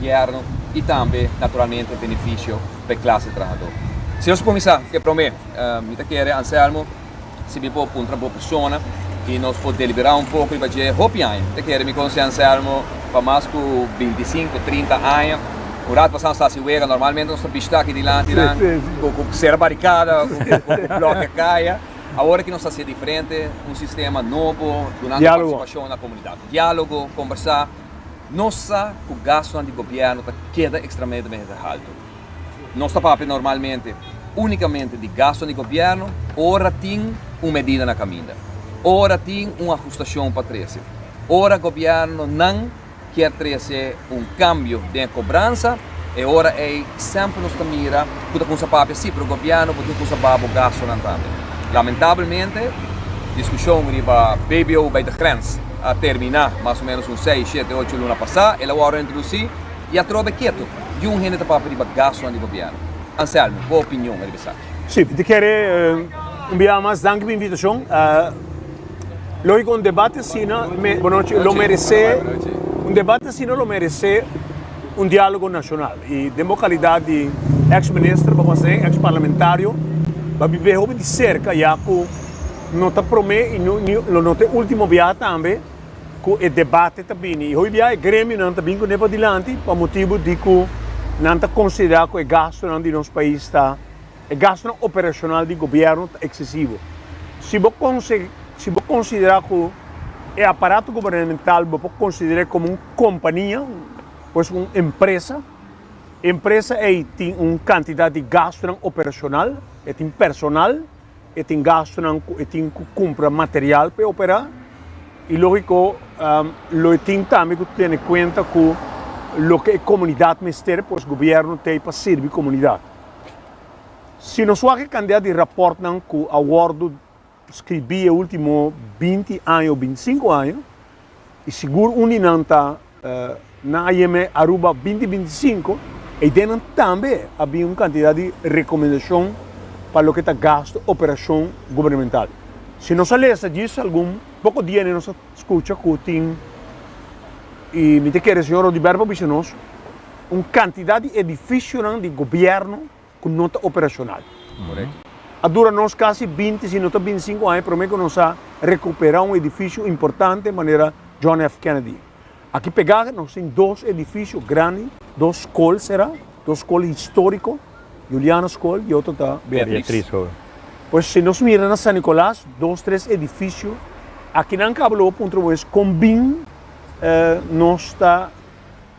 Gobierno y tambe naturalmente beneficio pa e clase trahador. Si nos cuminsa cu e prome, mi ta kere Anselmo si mi por puntra bo persona y nos por delibera un poco riba dje, hopi aña mi ta kere mi conoci Anselmo pa mas cu binti sinku, trinta aña, un rato pasado nos ta haci wega, normalmente nos ta bishita aki dilanti nan cu cera baricada, cu blokia caya, awor aki nos ta haci e diferente, un sistema nobo, dunando participacion na comunidad, dialogo, conversa. Nos sa cu gastonan di gobierno ta keda extramentemente halto. Nos ta papia normalmente unicamente di gastonan di gobierno ora tin un medida na caminda, ora tin un ajustacion pa trece, ora gobiernonan kier trece un cambio den e cobransa, E ora ei semper nos ta mira ku ta konsa papia si, pero gobièrnu bo tin ku usa babo gastunan tambe. Lamentablemente, diskushon riba BBO bai ta grens a terminá mas o ménos un seis, shete, ocho luna pasá, el awor a introdusí i atrobe ketu di un hende ta papia riba gastunan di gobièrnu. Anselmo, bo opinion riba esaki? Sí, mi ta kere un biaha mas danki pa invitashon. Lógiko un debate asina, bonochi, lo meresé, un debate asina lo meresé Un dialogo nacional y den bo calidad di ex minister bo hace ex parlamentario bo a bibe hopi di cerca ya cu no ta prome y lo no ta e ultimo biaha tambe cu e debate ta bini y hopi biaha e gremionan ta bin cu ne padilanti pa motibo di cu nan ta considera cu e gastonan di nos pais ta e gastonan operacional di gobierno ta excesivo si bo conse si bo considera cu e aparato gubernamental bo por considere como un. kompania, pues un empresa, empresa ei tin un kantidat di gastunan operashonal, e tin personal, e tin gastunan ku e tin ku kumpra material pa e operá, i lógiko lo e tin tambe ku tene kuenta ku loke e komunidat mester, pues gobièrnu t'ei pa sirbi komunidat. Si nos wak e kantidat di rapòrtnan ku a wòrdu. Scribí e último binti aña o binti sinku aña, i sigur un di nan ta na AYEME Aruba binti binti i sinku, ei den nan tambe a bin un kantidat di rekomendashon pa loke ta gastu operashon gubernemental. Si nos a lesa djis algun poko dia ni nos a skucha ku tin, i mi ta kere señor Rodiberto por bisa nos, un kantidat di edifishonan di gobièrnu, cu no ta operacional. A dura nos casi binti, si no ta binticinco aña prome cu nos a recupera un edificio importante manera John F. Kennedy. Aki pega nos tin dos edificio grandi, dos school sera, dos school historico, Juliana School y otro ta Beatriz School. Pues si nos mira na San Nicolas dos tres edificio aki nan caba lo punto nos a wens con bin nos ta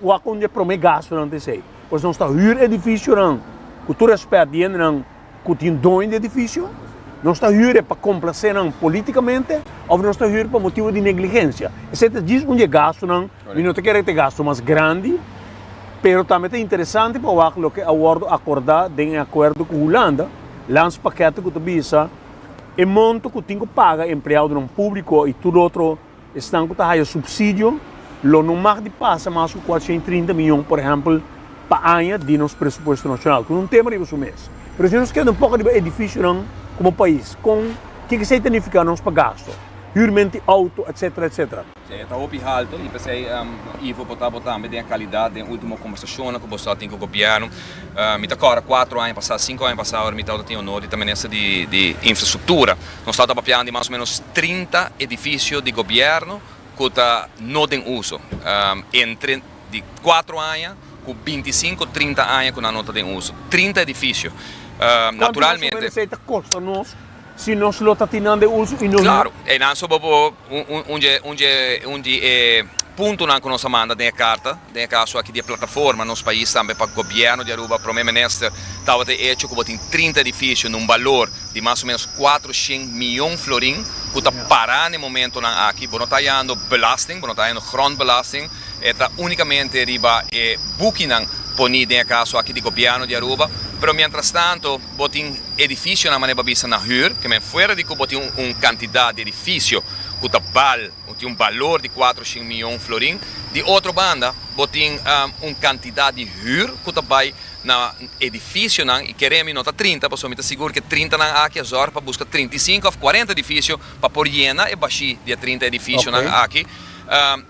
Wak un di e promé gastunan ta esei. Pues nos ta hür edifisionan, ku tur rèspèt di hendenan ku tin doño di edifisio. Nos ta hür e pa komplasé nan polítikamente òf nos ta hür pa motibu di negligensia. Esei ta djis un di e gastunan. Mi no ta kere ku ta e gastu mas grandi, pero tambe ta interesante pa wak loke a wòrdu akordá den e akuerdo ku Hulanda, lans pakèt ku ta bisa e monto ku tin ku paga empleadonan públiko i tur otro. Esnan ku ta haya supsidio lo no mag di pasa mas ku kuatrocientos i trinta mion, por ehèmpel, pa aña di nos presupuesto nashonal, ku un tema riba su mes. Pero si nos keda un poko riba e difisionan komo pais, kon ke ke esei ta nifiká nos pa gasto? Hürmenti e outo, etsetera, etsetera. Esei ta hopi haltu i p'esei Ivo bo ta bo tambe den e kalidat den último kombersashonnan ku boso a tin ku gobièrnu. Mi ta kòrda kuatro aña pasá, sinku aña pasá ora mi ta outa tin onor di ta minister di di infrastruktura. Nos ta ta papian di mas o menos trinta edifisio di gobièrnu ku ta no den uso, entre di kuatro aña ku binti sinku, trinta aña ku nan no ta den uso. Trinta edifisio. Kuantu mas o menos esei ta kosta nos si nos lo ta tin nan den uso i nos no? Klaru, einan suba bo un un un di e puntonan ku nos a manda den e karta. Den e kaso aki di e plataforma nos pais tambe pa Gobierno di Aruba, Prome Minister, tabata e echo ku bo tin trinta edifisio na un balor di mas o menos kuater shen mion florin ku ta pará n'e momentonan aki. Bo no ta hayando belasting, bo no ta hayando grondbelasting, e ta únikamente riba e bukinan poní den e kaso aki di Gobierno di Aruba. Pero mientrastanto bo tin edifisionan manera bo a bisa na hür, ke men fuera di ku bo tin un kantidat di edifisio ku ta bal, Bo tin un balor di kuater shin mion florin. Di otro banda, bo tin un kantidat di hür ku ta bai na edifisionan i kere mi no ta trinta, pasobra mi ta sigur ku e trintanan aki a zòrg pa buska trinta i sinku òf kuarenta edifisio pa por yena e bashí di e trinta edifisionan aki.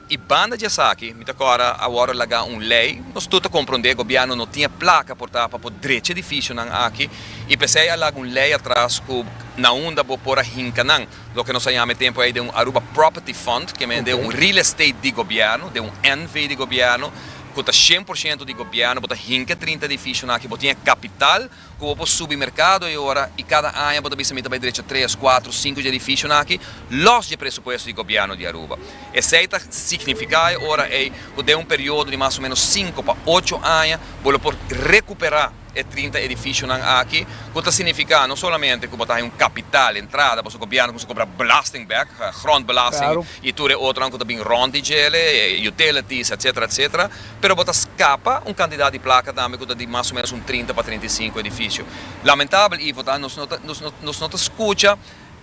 I banda dje esaki mi ta kòrda awor a laga un lei. Nos tur ta komprondé gobièrnu no tin e plaka por ta pa por drecha edifisionan aki i p'esei a laga un lei atras ku na unda bo por a hinka nan. Loke nos a yama e tempu ei den un Aruba Property Fund, ke men den un real estate di gobièrnu, den un NV di gobièrnu, ku ta shen por shento di gobièrnu, bo ta hinka e trinta edifishonan aki, bo tin e kapital ku bo por subi merkado ei ora i kada aña bo ta bisa mi ta bai drecha tres, kuatru, sinku dje edifishonan aki, lòs dje presupuesto di gobièrnu di Aruba. Esei ta signifiká ei ora ei ku den un periodo di mas o menos sinku pa ocho aña bo lo por rekuperá. E trinta edificionan aki, cu ta significa no solamente cu bo ta haña un capital, entrada, boso gobierno cuminsa cobra belasting bek, grondbelasting y tur e otronan cu ta bin rond di djele, utilities, etcetera, etcetera, pero bo ta scapa un cantidad di placa tambe cu ta di mas o menos un trinta pa trinta y cinco edificio. Lamentable, Ivo, ta nos no ta scucha.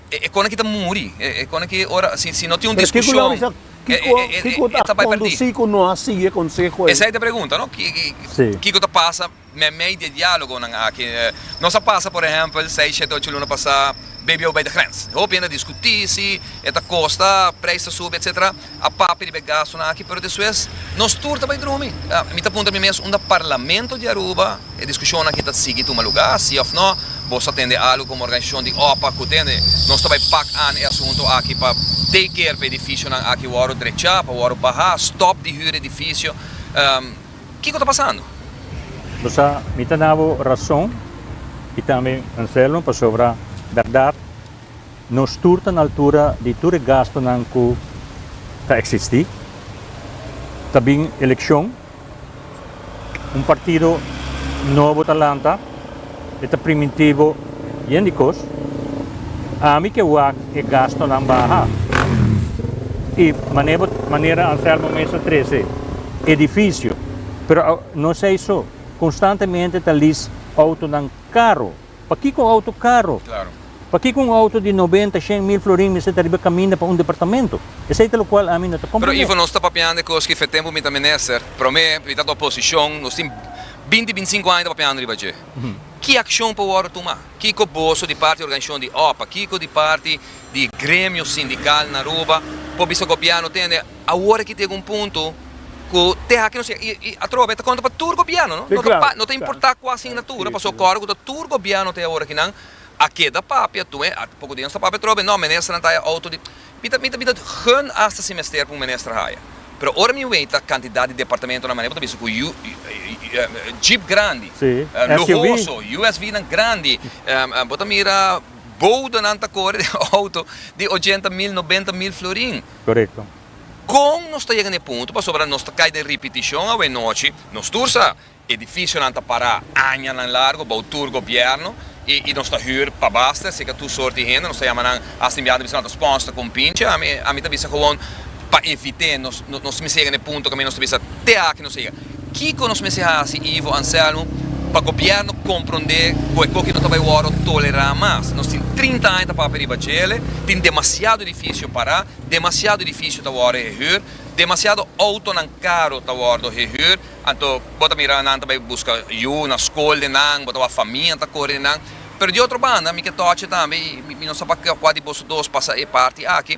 E konaki ta muri. E konaki ora, si no tin un diskushon, e ta bai perdí. Esei ta pregunta, no? Kiko ta pasa meimei di e diálogonan aki? Nos a pasa, por ehèmpel, sei, shete, ocho luna pasá, BBO bai ta grens. Hopi hende a diskutí si e ta kosta, preis ta subi, etsétera. a papia riba e gastunan aki, pero despues nos tur ta bai drumi. Mi ta puntra mi mes, unda Parlamento di Aruba e diskushonnan aki ta sigui tuma lugá, si òf nò? Boso a tende algu komo organizashon di OPAC ku tende? Nos ta bai pak an e asuntu aki pa take care pa e edifisionan aki wòru drechá, pa wòru bahá, stòp di hür edifisio. Kiko ta pasando? Bo sa, mi ta na bo rason i tambe Anselmo, pasobra bèrdat, Nos tur ta na altura di tur e gastunan ku ta eksistí. Ta bin elekshon. Un partido nobo ta lanta. E ta primintibo yen di kos. Ami ke wak e gastunan baha. I manera Anselmo mester trese edifisio. Pero no esei so. Konstantemente ta lis outonan karo. Pakico un auto caro? Pakico un auto di noventa, shen mil florin meseta riba caminda pa un departamento? Esey ta locual ami no ta comprende. Pero Ivo nos ta papiando e cos ki fe tempo mi ta menester, prome mi ta ta oposicion, nos tin binti, binti cinco aña ta papiando riba dje. Ki accion por wordo tuma? Kico boso di parti organisacion di opa, kico di parti di gremio sindical na Aruba por bisa gobierno tende Awor aki ta yega un punto cu te aki nos yega, y atrobe ta conta pa tur gobierno, no? No ta importa cua asignatura, pasobra cu ora cu ta tur gobierno te awor aki nan a keda papia tu, eh? Poco di nos ta papia atrobe, no, ministernan ta haya auto di, mi ta, mi ta, mi ta gun hasta si mester pa un minister haya, pero ora mi wei ta cantidad di departamentonan manera bo ta bisa cu yu, jeep grandi, luhoso, USVnan grandi, bo ta mira boudanan ta core den auto di ochenta mil, nobenta mil florin. Korekto. Kon nos ta yega na e punto pasobra nos ta kai den ripitishon awe nochi? Nos tur sa. Edifisionan ta pará añanan largu bou tur gobièrnu i nos ta hür pa basta, asina ke tur sort di hende, nos ta yama nan, asta mi a ta bisa nan ta spònster ku un pinche, ami ta bisa, Gewoon pa evit'é nos mester yega na e punto ku mi nos ta bisa te aki nos a yega. Kiko nos mester hasi, Ivo Anselmo, pa gobièrnu komprondé ku e koki no ta bai wòrdu tolerá mas? Nos tin trinta aña ta papia riba djele, tin demasiado edifisio pará, demasiado edifisio ta wòrdu hehür, demasiado outonan karu ta wòrdu hehür, anto bo ta mira nan ta bai buska yu na skol den nan, bo ta wak famia ta kore den nan. Pero di otro banda, mi ke tòchi tambe i mi no sa pa kua di boso dos pasa e parti aki,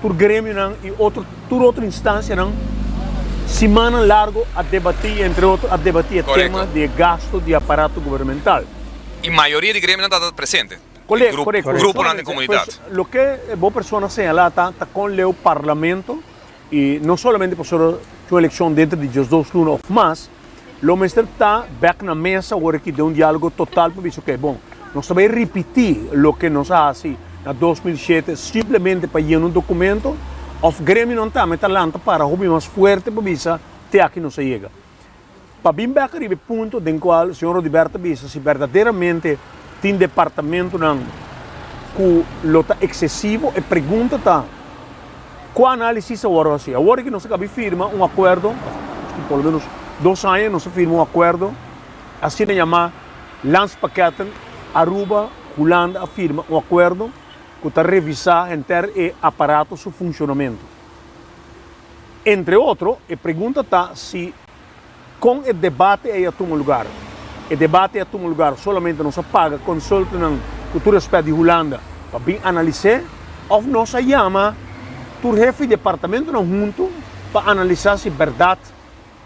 Tur gremionan i tur otro instancianan simannan largo a debatí, entre otro a debatí e tema di e gasto di aparato gubernamental. I mayoria di gremionan ta presente. Corect, corect. Di gruponan den comunidad. Loke bo persona señala ta, ta con leu Parlamento, i no solamente pasobra ta un eleccion dentro di diesdos luna of mas, Lo mester ta bek na mesa ora ki den un dialogo total pa bisa oke bon, nos ta bai ripiti loke nos a hasi na dos mil shete simplemente pa yena un dokumento of gremionan ta mester lanta para hopi mas fuerte pa bisa te aki nos a yega. Pa bin bek ariba e punto den cual señor Rodiberto ta bisa si berdaderamente tin departamentonan cu lo ta excesivo e pregunta ta, Ku análisis a wòrdu hasi? Awor ki nos a kabi firma un akuerdo, por lo menos dos aña nos a firma un akuerdo, asina yamá Landspakketten, Aruba, Hulanda a firma un akuerdo ku ta revisá henter e aparato su funshonamentu. Entre otro, e pregunta ta si. Kon e debate ei a tuma lugar? E debate ei a tuma lugar solamente nos a paga consultantnan cu tur respect di Hulanda pa bin analis'é of nos a yama tur hefi di departamentonan huntu pa analisa si berdad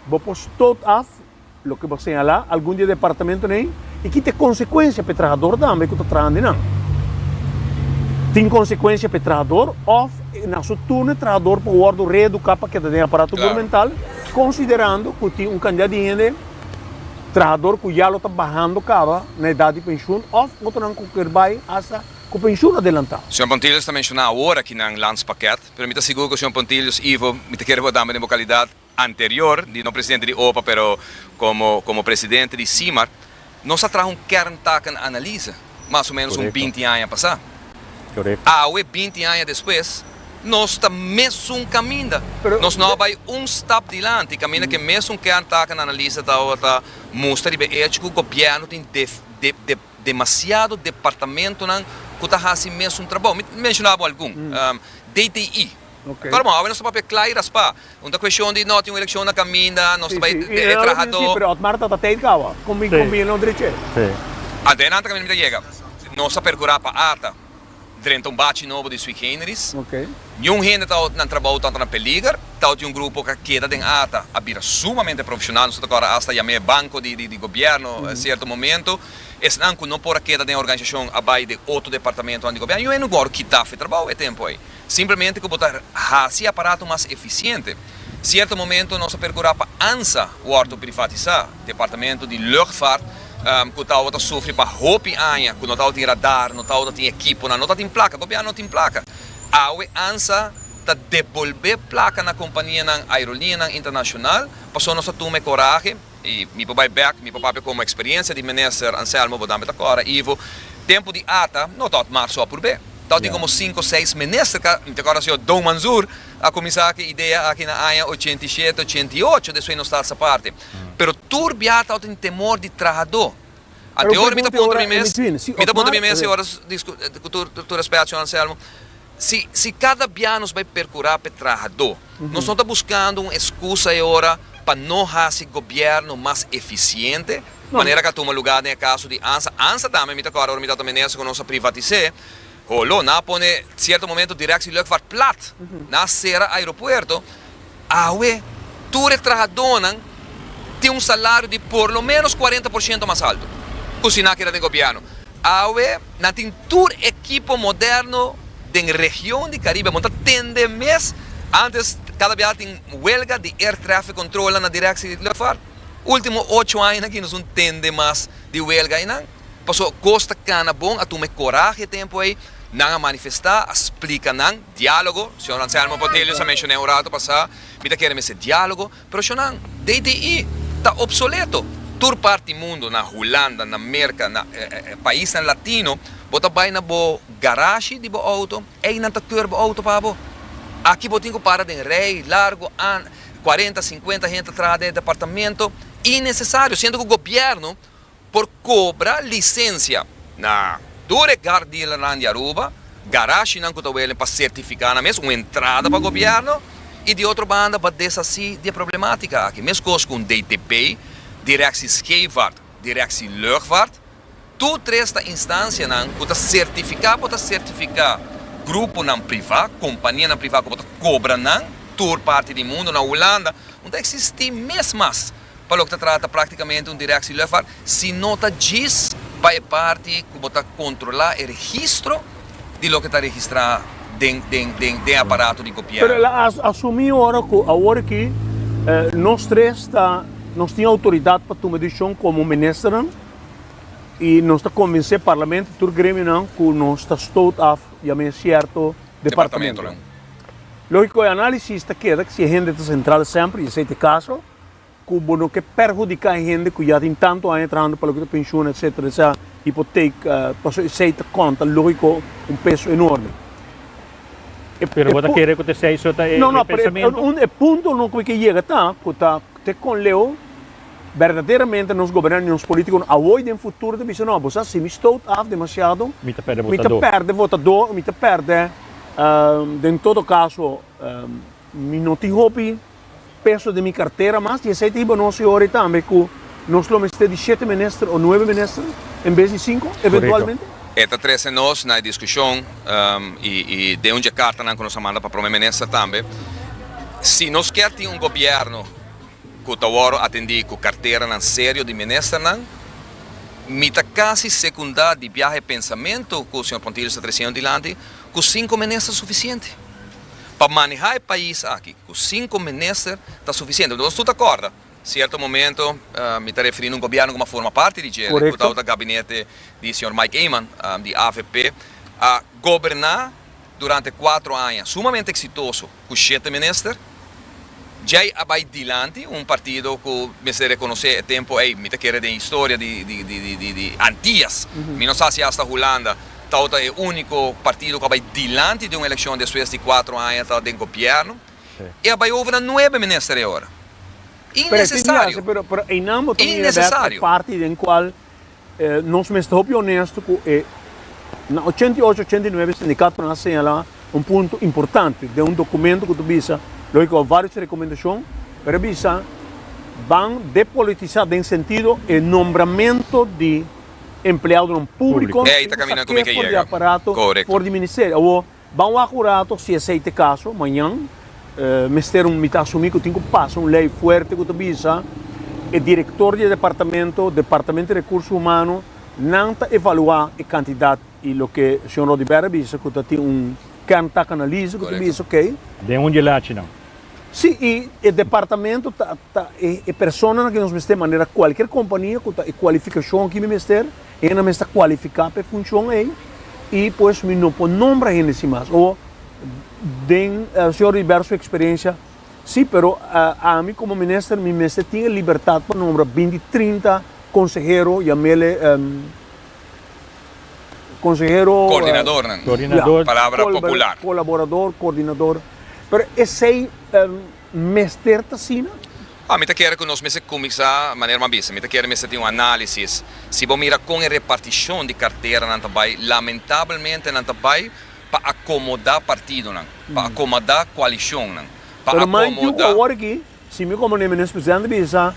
bo por stoot af loke bo a señala algun di e departamentonan ei i kita e consecuencia pa e trahador tambe cu ta traha di nan. Tin consecuencia pa e trahador of na su turno e trahador por wordo reeduca pa keda den aparato gubernamental. Konsiderando ku tin un kantidat di hende trahador ku ya lo ta bahando kaba na edat di penshun òf otronan ku kier bai asta ku penshun adelantá. Señor Pontilius ta menshoná awor aki nan lans pakèt, pero mi ta sigur ku señor Pontilius Ivo mi ta kere bo dame den bo kalidat anterior di no presidente di opa pero komo komo presidente di Simar Nos a traha un kerntaken analize mas o menos un binti aña pasá. Awe, binti aña despues, nos ta mesun kaminda. Nos no a bai un stap dilanti kaminda ku e mesun kerntaken analize tabata mustra riba e echo ku gobièrnu tin demasiado departamentunan ku ta hasi e mesun trabou. Mi ta menshona bo algun. DTI. Pero bon, awe nos ta papia kla i raspá. Un ta kueshon di no tin un elekshon na kaminda, nos ta bai den e trahadó. Pero Otmar ta tata teit kawa, kon mi kon bini no dreché. Adelanta kaminda mi ta yega. Nos ta perkurá pa ata drenta un bachi nobo di Sui Generis. Niun hende ta ot nan trabou tanta na peliger, ta ot di un grupo ku a keda den ata a bira sumamente profeshonal. Nos ta tokora asta yam'é e banko di gobièrnu sierto momento. Esnan ku no por a keda den e organisashon a bai den otro departamentonan di gobièrnu. Yu e no gòrdu kita afe trabou e tempu ei. Simplemente ku bo ta hasi aparato mas efisiente. Sierto momento nos a perkurá pa ansa wòrdu privatisá. Departamento di Luchtvaart ku tabata sufri pa hopi aña ku no tabata tin radar, no tabata tin ekiponan, no ta tin plaka, gobièrnu no tin plaka. Awe ansa ta debolbé plaka na kompanianan aerolineanan internashonal, pasobra nos a tuma e korahe. i mi por bai bek, mi por papia komo eksperiencia di Minister Anselmo bo dame ta kora, Ivo, tempo di ata no tot marso a purbe, tot tin komo sinku, seis Minister ka, mi ta kora señor Don Manzur a kuminsa aki idea aki na aña ochenta i shete, ochenta i ocho, despues nos ta alsa parti, pero tur bia tot tin temor di trahado. A te ora mi ta puntra mi mes, mi ta puntra mi mes e oras, ku tur respèt Señor Anselmo, si si kada bia nos bai perkurá pa e trahadó, nos no ta buskando un eskusa e ora pa no hasi gobièrnu mas efisiente, manera ku a tuma lugá den e kaso di ansa, ansa tambe mi ta kòrda ora mi tabata minister ku nos a privatis'é, holo, nan a pone sierto momento dirèk si luchtvaart plat, nan a sera aeropuerto, Awe, tur e trahadónan tin un salario di por lo ménos kuarenta por shento mas alto ku siná keda den gobièrnu. Awe, nan tin tur ekipo modèrnu den region di Caribe. Bo ta tende mes, ántes kada biaha tin welga di air traffic controlnan na direkshi di lùfhart. Último ocho aña aki nos no tende mas di welga einan. Pasobra Costa Cana bon a tuma e korahe tempu ei, nan a manifestá, a splika nan. Diálogo, Señor Anselmo Portelio sa menshon'é un rato pasá, mi ta kere mester diálogo, pero shonán, DDI ta opsoleto. Tur parti mundu, na Hulanda, na Merka, na paisnan latino, bo ta bai na bo garashi di bo outo, einan ta keur bo outo pa bo. Aki bo tin ku para den rei largu, an, kuarenta, sinkuenta hende atrás den e departamento, inesesario, siendo ku gobièrnu, por kobra lisensia na tur e car dealernan di Aruba, garashinan ku ta welen pa sertifiká nan mes un entrada pa gobièrnu, i di otro banda pa deshasí di e problematika aki. Meskos ku DTP, Direksie Scheepvaart, Direksie Luchtvaart, tur tres ta instansianan ku ta sertifiká por ta sertifiká gruponan privá, kompanianan privá ku por ta kobra nan tur parti di mundu. Na Hulanda no ta eksistí mes mas. pa loke ta trata práktikamente un direkshi lùfhart, si no ta djis pa e parti ku bo ta kontrolá e registro di loke ta registrá den aparato di gobièrnu. Pero el a asumí ora ku awor aki nos tres ta, nos tin outoridat pa tuma desishon komo ministernan i nos ta konvensé parlamento i tur gremionan ku nos ta stoot af yam'é sierto departamentonan. Lógiko e análisis ta keda si e hende ta sentral semper i esei ta e kaso. Ku bo no ke perhudiká e hende ku ya tin tantu aña trahando pa loke ta penshun etcétera di sa hipotec pasobra esei ta konta lógiko un peso enorme. Pero bo ta kere ku ta esei so ta e pensamentu? No no e punto no ke yega ta ku ta te kon Leo berdaderamente nos gobernante nos politiko no awor den futuro ta bisa no bo sa si mi stoot af demasiado mi ta perde votadó mi ta perde den todo kaso mi no tin hopi peso den mi kartera mas, i esei ta hiba nos hopi tambe ku nos lo mester di shete minister o nuebe minister en bes di sinku eventualmente? E ta trese nos na e diskushon i den un dje kartanan ku nos a manda pa Prome Minister tambe. Si nos kier tin un gobièrnu ku ta wòrdu atendí ku karteranan serio di ministernan, mi ta kasi sekundá di biaha e pensamentu ku señor Pontilius ta tresiña dilanti, ku sinku minister ta sufisiente. Pa manehá e pais aki ku sinku minister ta sufisiente. Nos tur ta kòrda sierto momento mi ta referí na un gobièrnu ku mi a forma parti di dje, ku tabata gabinete di señor Mike Eman di avp, a goberná durante kuatro aña sumamente eksitoso ku shete minister. Djei a bai dilanti, un partido cu mester reconocé e tempo ey, mi ta kere den historia di Antillas, mi no sa si hasta Hulanda, tau ta e unico partido cu a bai dilanti den un eleccion despues di cuatro aña ta den gobierno, e a bai over na nuebe minister e ora. Innecesario! Innecesario! Nos mester hopi onesto ku e. Na ochenta i ocho, ochenta i nuebe sindikatonan a señalá un punto importante den un dokumento ku ta bisa, lo ke kua varios rekomendashon, pero a bisa ban depolitisá den sentido e nombramentu di empleadonan públiko, tin ku sak'é for di aparato, for di ministerio. Awo Ban wak un rato si esei te kaso mañan. Mester un, mi ta asumí ku tin ku pasa un lei fuerte ku ta bisa e direktor di e departamento, Departamento di Rekurso Humano, nan ta evaluá e kantidat i loke señor Rodiberto a bisa ku ta tin un kerntak analisis ku ta bisa oke. Den un djelach'i nan. Sí, i e departamento ta e personanan ku nos mester manera kualkier kompania ku ta e kualifikashon aki mi mester. Hende mester kualifiká pa e funshon ei i pues mi no por nombra hende si mas. O den señor Rivera su eksperensia si, pero ami komo minister mi mester tin e libertat pa nombra binti trinta konsehero, yam'el e konsehero, Koordinadornan, palabra popular. kolaborador, koordinador, pero esei. mester ta asina? A mi ta kere ku nos mester kuminsá manera mas bisa. Mi ta kere mester tin un análisis. Si bo mira kon e repartishon di karteranan ta bai, lamentabelmente nan ta bai pa akomodá partidonan, pa akomodá koalishonnan, pa akomodá. Pero mind you ku awor aki, si mi komo Nemenes Presidente bisa,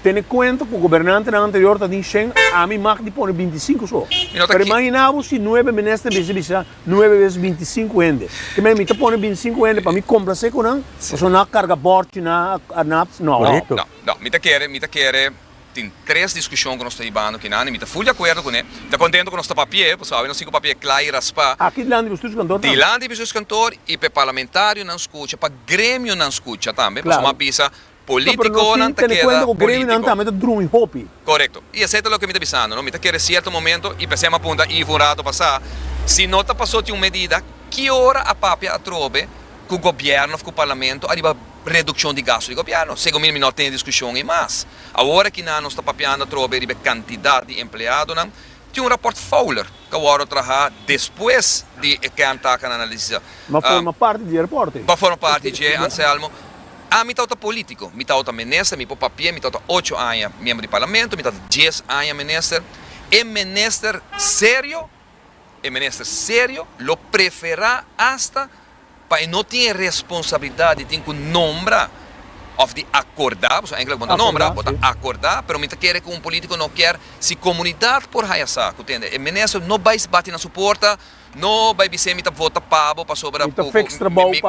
tene kuenta ku gobernantenan anterior ta tin shen, a mi mag di pone binti i sinku so. Pero imaginá bo si nuebe Minister mester bisa, Nuebe bes binti sinku hende. Ke men, mi ta pone binti sinku hende pa mi komplase ku nan? Pasobra nan a karga bòrchi, nan a. No. No, no, no. Mi ta kere, mi ta kere tin tres diskushon ku nos ta hibando kinan i mi ta ful di akuerdo kuné. Mi ta kontentu ku nos ta papi'é, pasobra awe nos tin ku papi'é kla i raspá. Aki dilanti di bestuus kantor tambe. Dilanti di bestuus kantor i pa e parlamentarionan skucha, pa gremionan skucha tambe, pasobra mi a bisa Ta pero no sin tene cuenta cu Gremi nan tambe ta drumi hopi. Correcto. Y esey ta loke mi ta bisando, no? Mi ta kere cierto momento y p'esey m'ha punta Ivo un rato pasá, si no ta pasó tin un medida, ki ora a papia atrobe cu gobierno of cu parlamento ariba reduccion di gasto di gobierno? Segun mi, mi no a tene discusion ey mas. Awor aki nan nos ta papiando atrobe riba e cantidad di empleadonan, Tin un raport Fowler ca wordo traha despues di e kern takan analisisa. Ba forma parti dje raport ey. Ba forma parti dje, Anselmo. Ami tawta politico, mi tawta minister, mi por papia, mi tawta ocho aña miembro di parlamento, mi tawta dies aña minister. E minister serio, e minister serio lo prefera hasta pa e no tin e responsabilidat di tin ku nombra òf di akordá, pasobra èntlik bo no ta nombra, bo ta akordá, pero mi ta kere ku un polítiko no kèr si komunidat por haya sa ku tende e minister no bai bati na su porta, no bai bis'é mi ta vota pa bo pasobra ku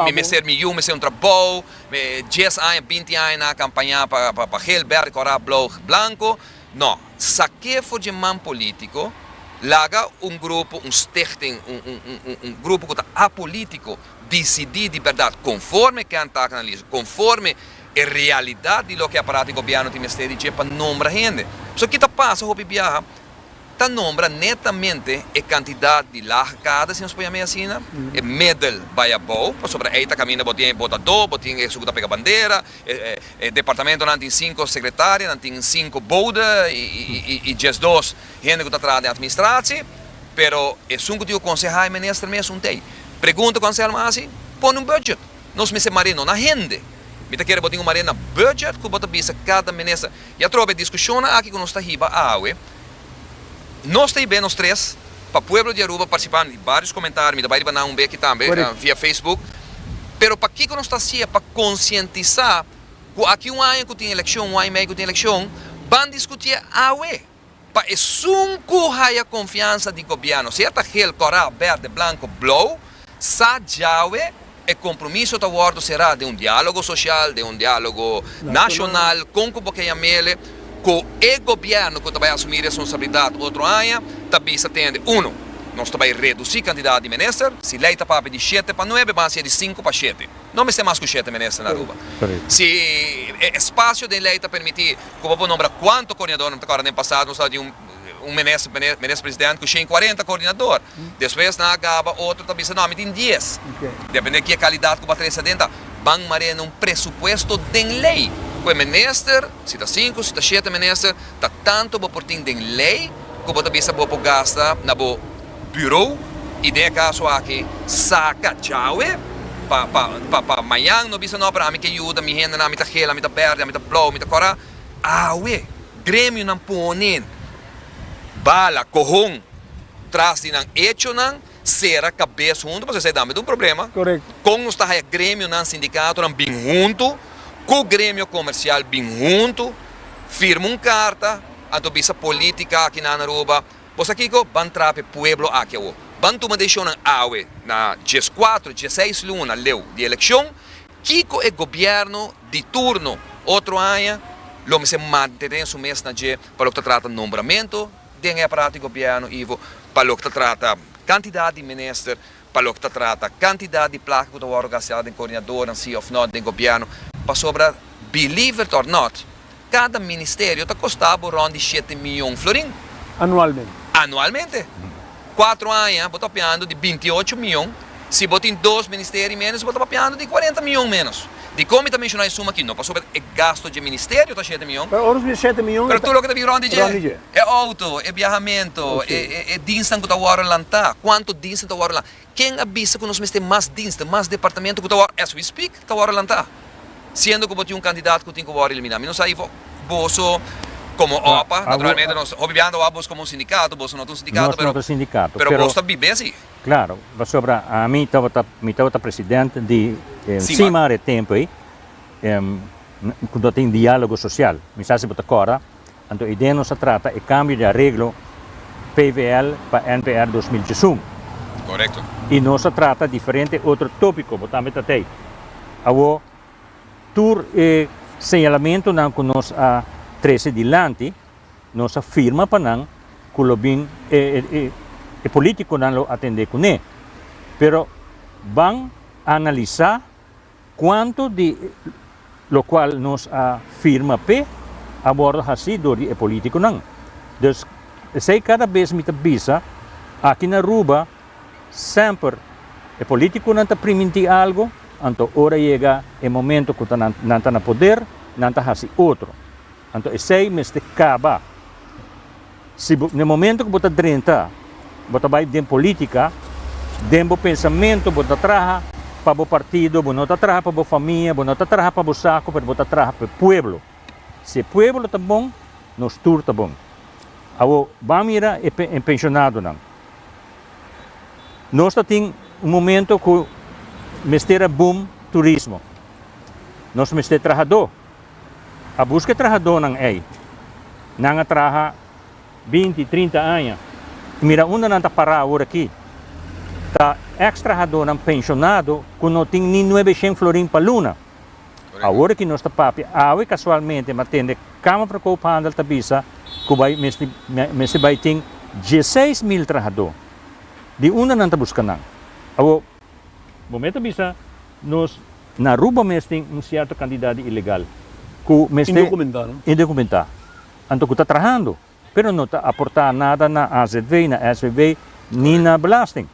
mi mester mi yu mester un trabou, mi dies aña, binti aña nan a kampañá pa geel, bèrd, kòrá, blou, blanko. No, saqué for dje man politico, laga un grupo, un stichting, un un un un un grupo cu ta apolitico dicidí di berdad, conforme ken ta cu nan listo, conforme e realidad di loke e aparato di gobierno tin mester di dje pa nombra hende. So ki ta pasa hopi biaha, ta nombra netamente e cantidad di laag kader, si nos por yama e asina, e middel bay abou, pasobra ey ta caminda bo tin e botadó, bo tin esun cu ta pega bandera, E departamentonan tin sinko sekretaria, nan tin sinko bode i diesdos hende ku ta traha den atministrasie, pero esun ku tin ku konsehá e minister mes un tei. Pregunta ku Anselmo a hasi, pone un bùdjet, nos mester mar'é no na hende, mi ta kere bo tin ku mar'é na bùdjet ku bo ta bisa kada minister. I atrobe e diskushonnan aki ku nos ta hiba awe, Nos ta ibe nos tres pa pueblo di Aruba participa mi varios comentario mi ta bai riba nan un be aki tambe via Facebook pero pakico nos ta hacia pa concientisa cu aki un aña cu tin eleccion un aña y medio cu tin eleccion ban discutié awe pa esun cu haya confiansa di gobierno sea ta gel cora verde blanco blauw sa djawe E compromiso ta wordo sera den un dialogo social, den un dialogo nacional, con cu bo ke ya mele cu e gobierno cu ta bay asumi responsabilidad otro aña, ta bisa tende, uno, nos ta bay reduci cantidad di minister, si ley ta papia di shete pa nuebe, ban haci'e di cinco pa shete, no mester mas cu shete minister na Aruba. Si e espacio den ley ta permiti cu bo por nombra cuanto coordinadornan ta core den pasado, nos tabata di un. un minister minister president cu shen cuarenta coordinador. Despues nan a gaba otro ta bisa no ami tin dies. Depende kia calidad cu bo a trece adenta. Ban marena un presupuesto den ley cu e minister, si ta cinco si ta shete minister, ta tanto bo por tin den ley cu bo ta bisa bo por gasta na bo bureau y den e caso aki saca djawe pa pa pa mayan no bisa no pero ami ke yuda mi hendenan mi ta gela mi ta berde ami ta blauw mi ta cora Awe, gremionan pone bala, cohon, tras di nan hechonan, cera cabes hunto pasobra esei tambe ta un problema. Con nos ta haya gremionan, sindicatonan bin hunto, cu gremio comercial bin hunto, firma un carta, anto bisa politica aki na Aruba, Bo sa kico? Ban traha pa e pueblo aki awor. Ban tuma decisionnan awe, na diescuatro, dieseis luna leu di eleccion. Kiko e gobièrnu di turno otro aña lo mester mantene su mes na dje pa loke ta trata nombramentu den e aparato di gobièrnu ivo pa loke ta trata kantidat di minister, pa loke ta trata kantidat di plaka ku ta wòrdu gasteá den koordinadornan sí òf nò den gobièrnu? Pasobra, believe it or not, Cada ministerio ta costa bo rond di shete miyon florin. Anualmente. Anualmente. Cuatro aña bo ta papiando di binti y ocho miyon. Si bo tin dos ministerio y menos bo ta papiando di cuarenta miyon menos. Dicon mi ta menciona e suma aki? No pasobra e gasto dje ministerio ta shete miyon. Pero ora su e shete miyon e ta. Pero tur loke ta bin rond di dje. Rond di dje. E auto, e biahamento, e dinsnan cu ta wordo lanta. Cuanto dinsnan ta wordo lanta. Ken a bisa ku nos mester mas diensten, mas departamento ku ta wòrdu, as we speak, ta wòrdu lantá? Siendo ku bo tin un kandidat ku tin ku wòrdu eliminá. Mi no sa if boso komo opa, naturalmente nos hopi biaha ta wak boso komo un sindikato, boso no ta un sindikato, pero boso ta bib'é así. Klaro, pasobra ami tabata, mi tabata president di sima are tempu ei, ku no tin diálogo sosial. Mi sa si bo ta kòrda, Anto idea nos a trata e cambio di areglo PVL pa NPR dos mil djesun. Correcto. Y nos a trata diferente otro topico, bo tambe ta t'ey. Awo, tur e señalamentonan cu nos a trece dilanti, nos a firma pa nan cu lo bin e e politiconan lo atende cune. Pero ban a analiza. Cuanto di locual nos a firma p'e a wordo haci door di e politiconan. Dus esey cada bes mi ta bisa, aki na Aruba semper e politiconan ta priminti algo, anto ora yega e momento cu nan ta na poder, nan ta haci otro. Anto esei mester kaba. Si bo n'e momento ku bo ta drenta, bo ta bai den polítika, den bo pensamentu bo ta traha pa bo partido, bo no ta traha pa bo famia, bo no ta traha pa bo saku, pero bo ta traha pa e pueblo. Si e pueblo ta bon, nos tur ta bon. Awor, ban mira e e penshonadonan. Nos ta tin un momento ku mester a boom turismo. Nos mester trahadó. a buska e trahadónan ei. Nan a traha binti, trinta aña i mira unda nan ta pará awor aki. Ta èkstrahadónan penshonado ku no tin ni nuebeshent florin pa luna. Awor aki nos ta papia awe kasualmente mi a tende Kamer for Koophandel ta bisa ku bai mester mester bai tin dieseis mil trahadó. Di unda nan ta buska nan? Awor. Bo me ta bisa nos. Na Aruba mes tin un cierto cantidad di ilegal cu mester. Indocumentá no. Indocumentá. Anto cu ta trahando pero no ta aportá nada na azv, na svb ni na belasting.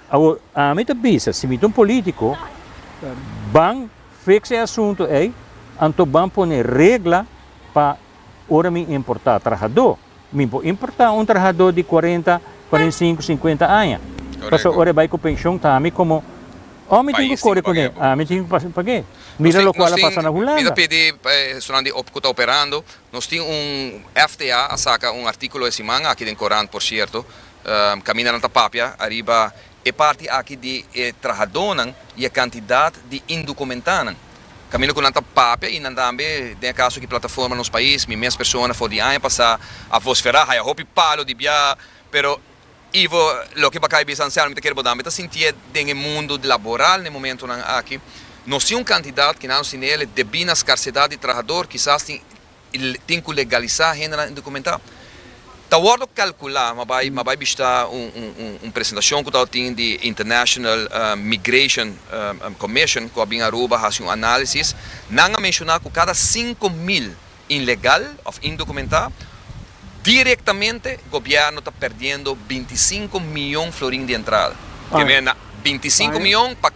Awor ami ta bisa si mi ta un politico ban fix e asunto ey anto ban pone regla pa ora mi importá trahador. Mi por importa un trahador di cuarenta, cuarenta y cinco, cincuenta aña. Paso ora e bai cu pension ta ami como o mi tin cu core con e o mi tin cu pasa pague. Mira locual a pasa na Hulanda. Mi ta pidi esnan di op cu ta operando, nos tin un FTA a saca un articulo e siman aki den corant por cierto, caminda nan ta papia ariba E parti aki di e trahadónan i e kantidat di indokumentánan. Kaminda ku nan ta papia i nan tambe den e kaso ku e plataforma Nos Pais, mi mes persona for di aña pasá a vosferá, haya hopi palo di biaha, pero Ivo loke Bacay a bisa Anselmo mi ta kere bo dambe ta sintié den e mundu laboral n'e momentunan aki. Nos tin un kantidat ku nan a sintiné el e debí na skarsedat di trahador, kisas tin i tin ku legalisá hendenan indokumentá. Ta wòrdu kalkulá, mi a bai mi a bai bishitá un presentashon ku tabata tin di International Migration Commission ku a bin Aruba a hasi un análisis, nan a menshoná ku kada sinku mil inlegal òf indokumentá, direktamente gobièrnu ta perdiendo binti sinku mion florin di entrada. Promé na binti sinku mion pa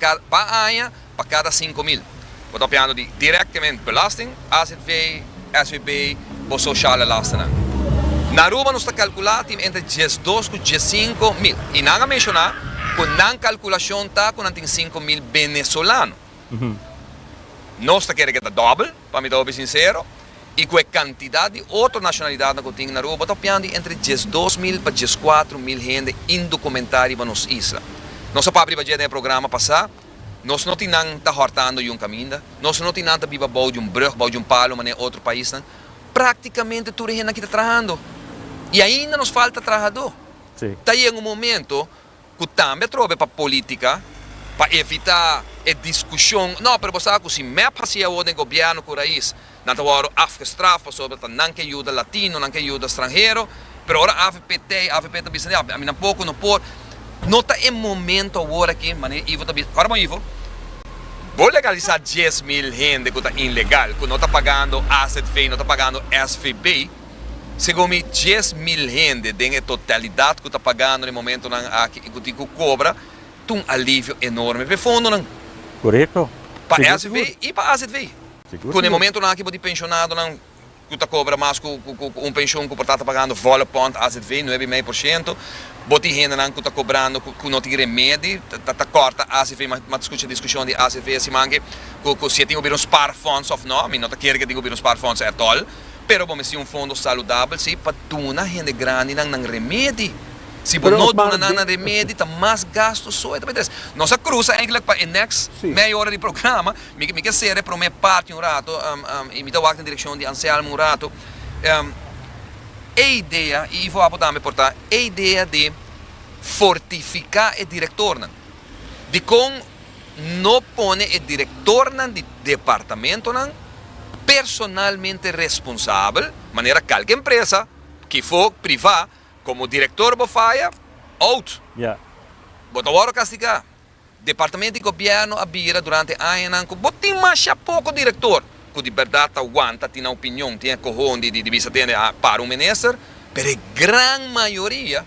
aña. Pa kada sinku mil bo ta opiando di direktemente belasting, azv, svp, bo sociale lastennan. Na Aruba nos ta calcula tin entre diesdos cu diescinco mil y nan a menciona cu nan calculacion ta cu nan tin sinku mil Venezolano. Nos ta kere cu e ta dobel, pa mi ta hopi sincero, y cu e cantidad di otro nacionalidadnan cu tin na Aruba, bo ta opiando di entre diesdos mil pa diescuatro mil hende indocumentá riba nos isla. Nos a papia riba dje den e programa pasá. Nos no tin nan ta hòrtando di un kaminda, nos no tin nan ta biba bou di un brùg, bou di un palu manera otro paisnan. Práktikamente tur e hende aki ta trahando i ainda nos falta trahadó. Ta yega un momento ku tambe atrobe pa polítika, pa evitá e diskushon, no, pero bo sa ku si mep hasi awor den gobièrnu ku rais, Nan ta wòru afgestraf pasobra ta nan ke yuda latino, nan ke yuda stranhero, pero ora avp tè i avp ta bisa di avp, ami nan poko no por, no ta e momento awor aki, manera Ivo ta bisa, para bon Ivo, bo legalisá dies mil hende ku ta inlegal, ku no ta pagando azv, no ta pagando svb, segun mi dies mil hende den e totalidat ku ta pagando na e momentunan aki i ku tin ku kobra, ta un alivio enorme p'e fondonan. Korekto. Pa svb i pa azv. Ku na e momentunan aki bo tin penshonadonan ku ta kobra mas ku un penshon ku por ta ta pagando volle pond azv, nuebe i mei por shento. Bo tin hendenan ku ta kobrando ku no tin remedi, ta kòrta azv, mi a skucha diskushon di azv siman aki ku si e tin ku bira un sparfonds òf nò. Mi no ta kere ku e tin ku bira un sparfonds ètòl, pero bo mester un fondo saludabel si pa duna hende grandinan nan remedi. Si bo no duna nan nan remedi ta mas gastu so. Nos a krusa èinklik pa e nèks mei ora di programa. Mi mi ke sera e prome parti un rato i mi ta wak den direkshon di Anselmo un rato. E idea, i Ivo Apo tambe por ta, e idea di fortifiká e direktornan, dikon no pone e direktornan di departamentonan personalmente responsabel, manera kalke empresa, kifo, privá, komo direktor bo faya, out! Bo ta wòrdu kastigá. Departamento di Gobierno a bira durante añanan cu bo tin masha poco director cu di berdad ta wanta, tin opinion, tin e cohoon di di bisa tende a para un minister, pero e gran mayoria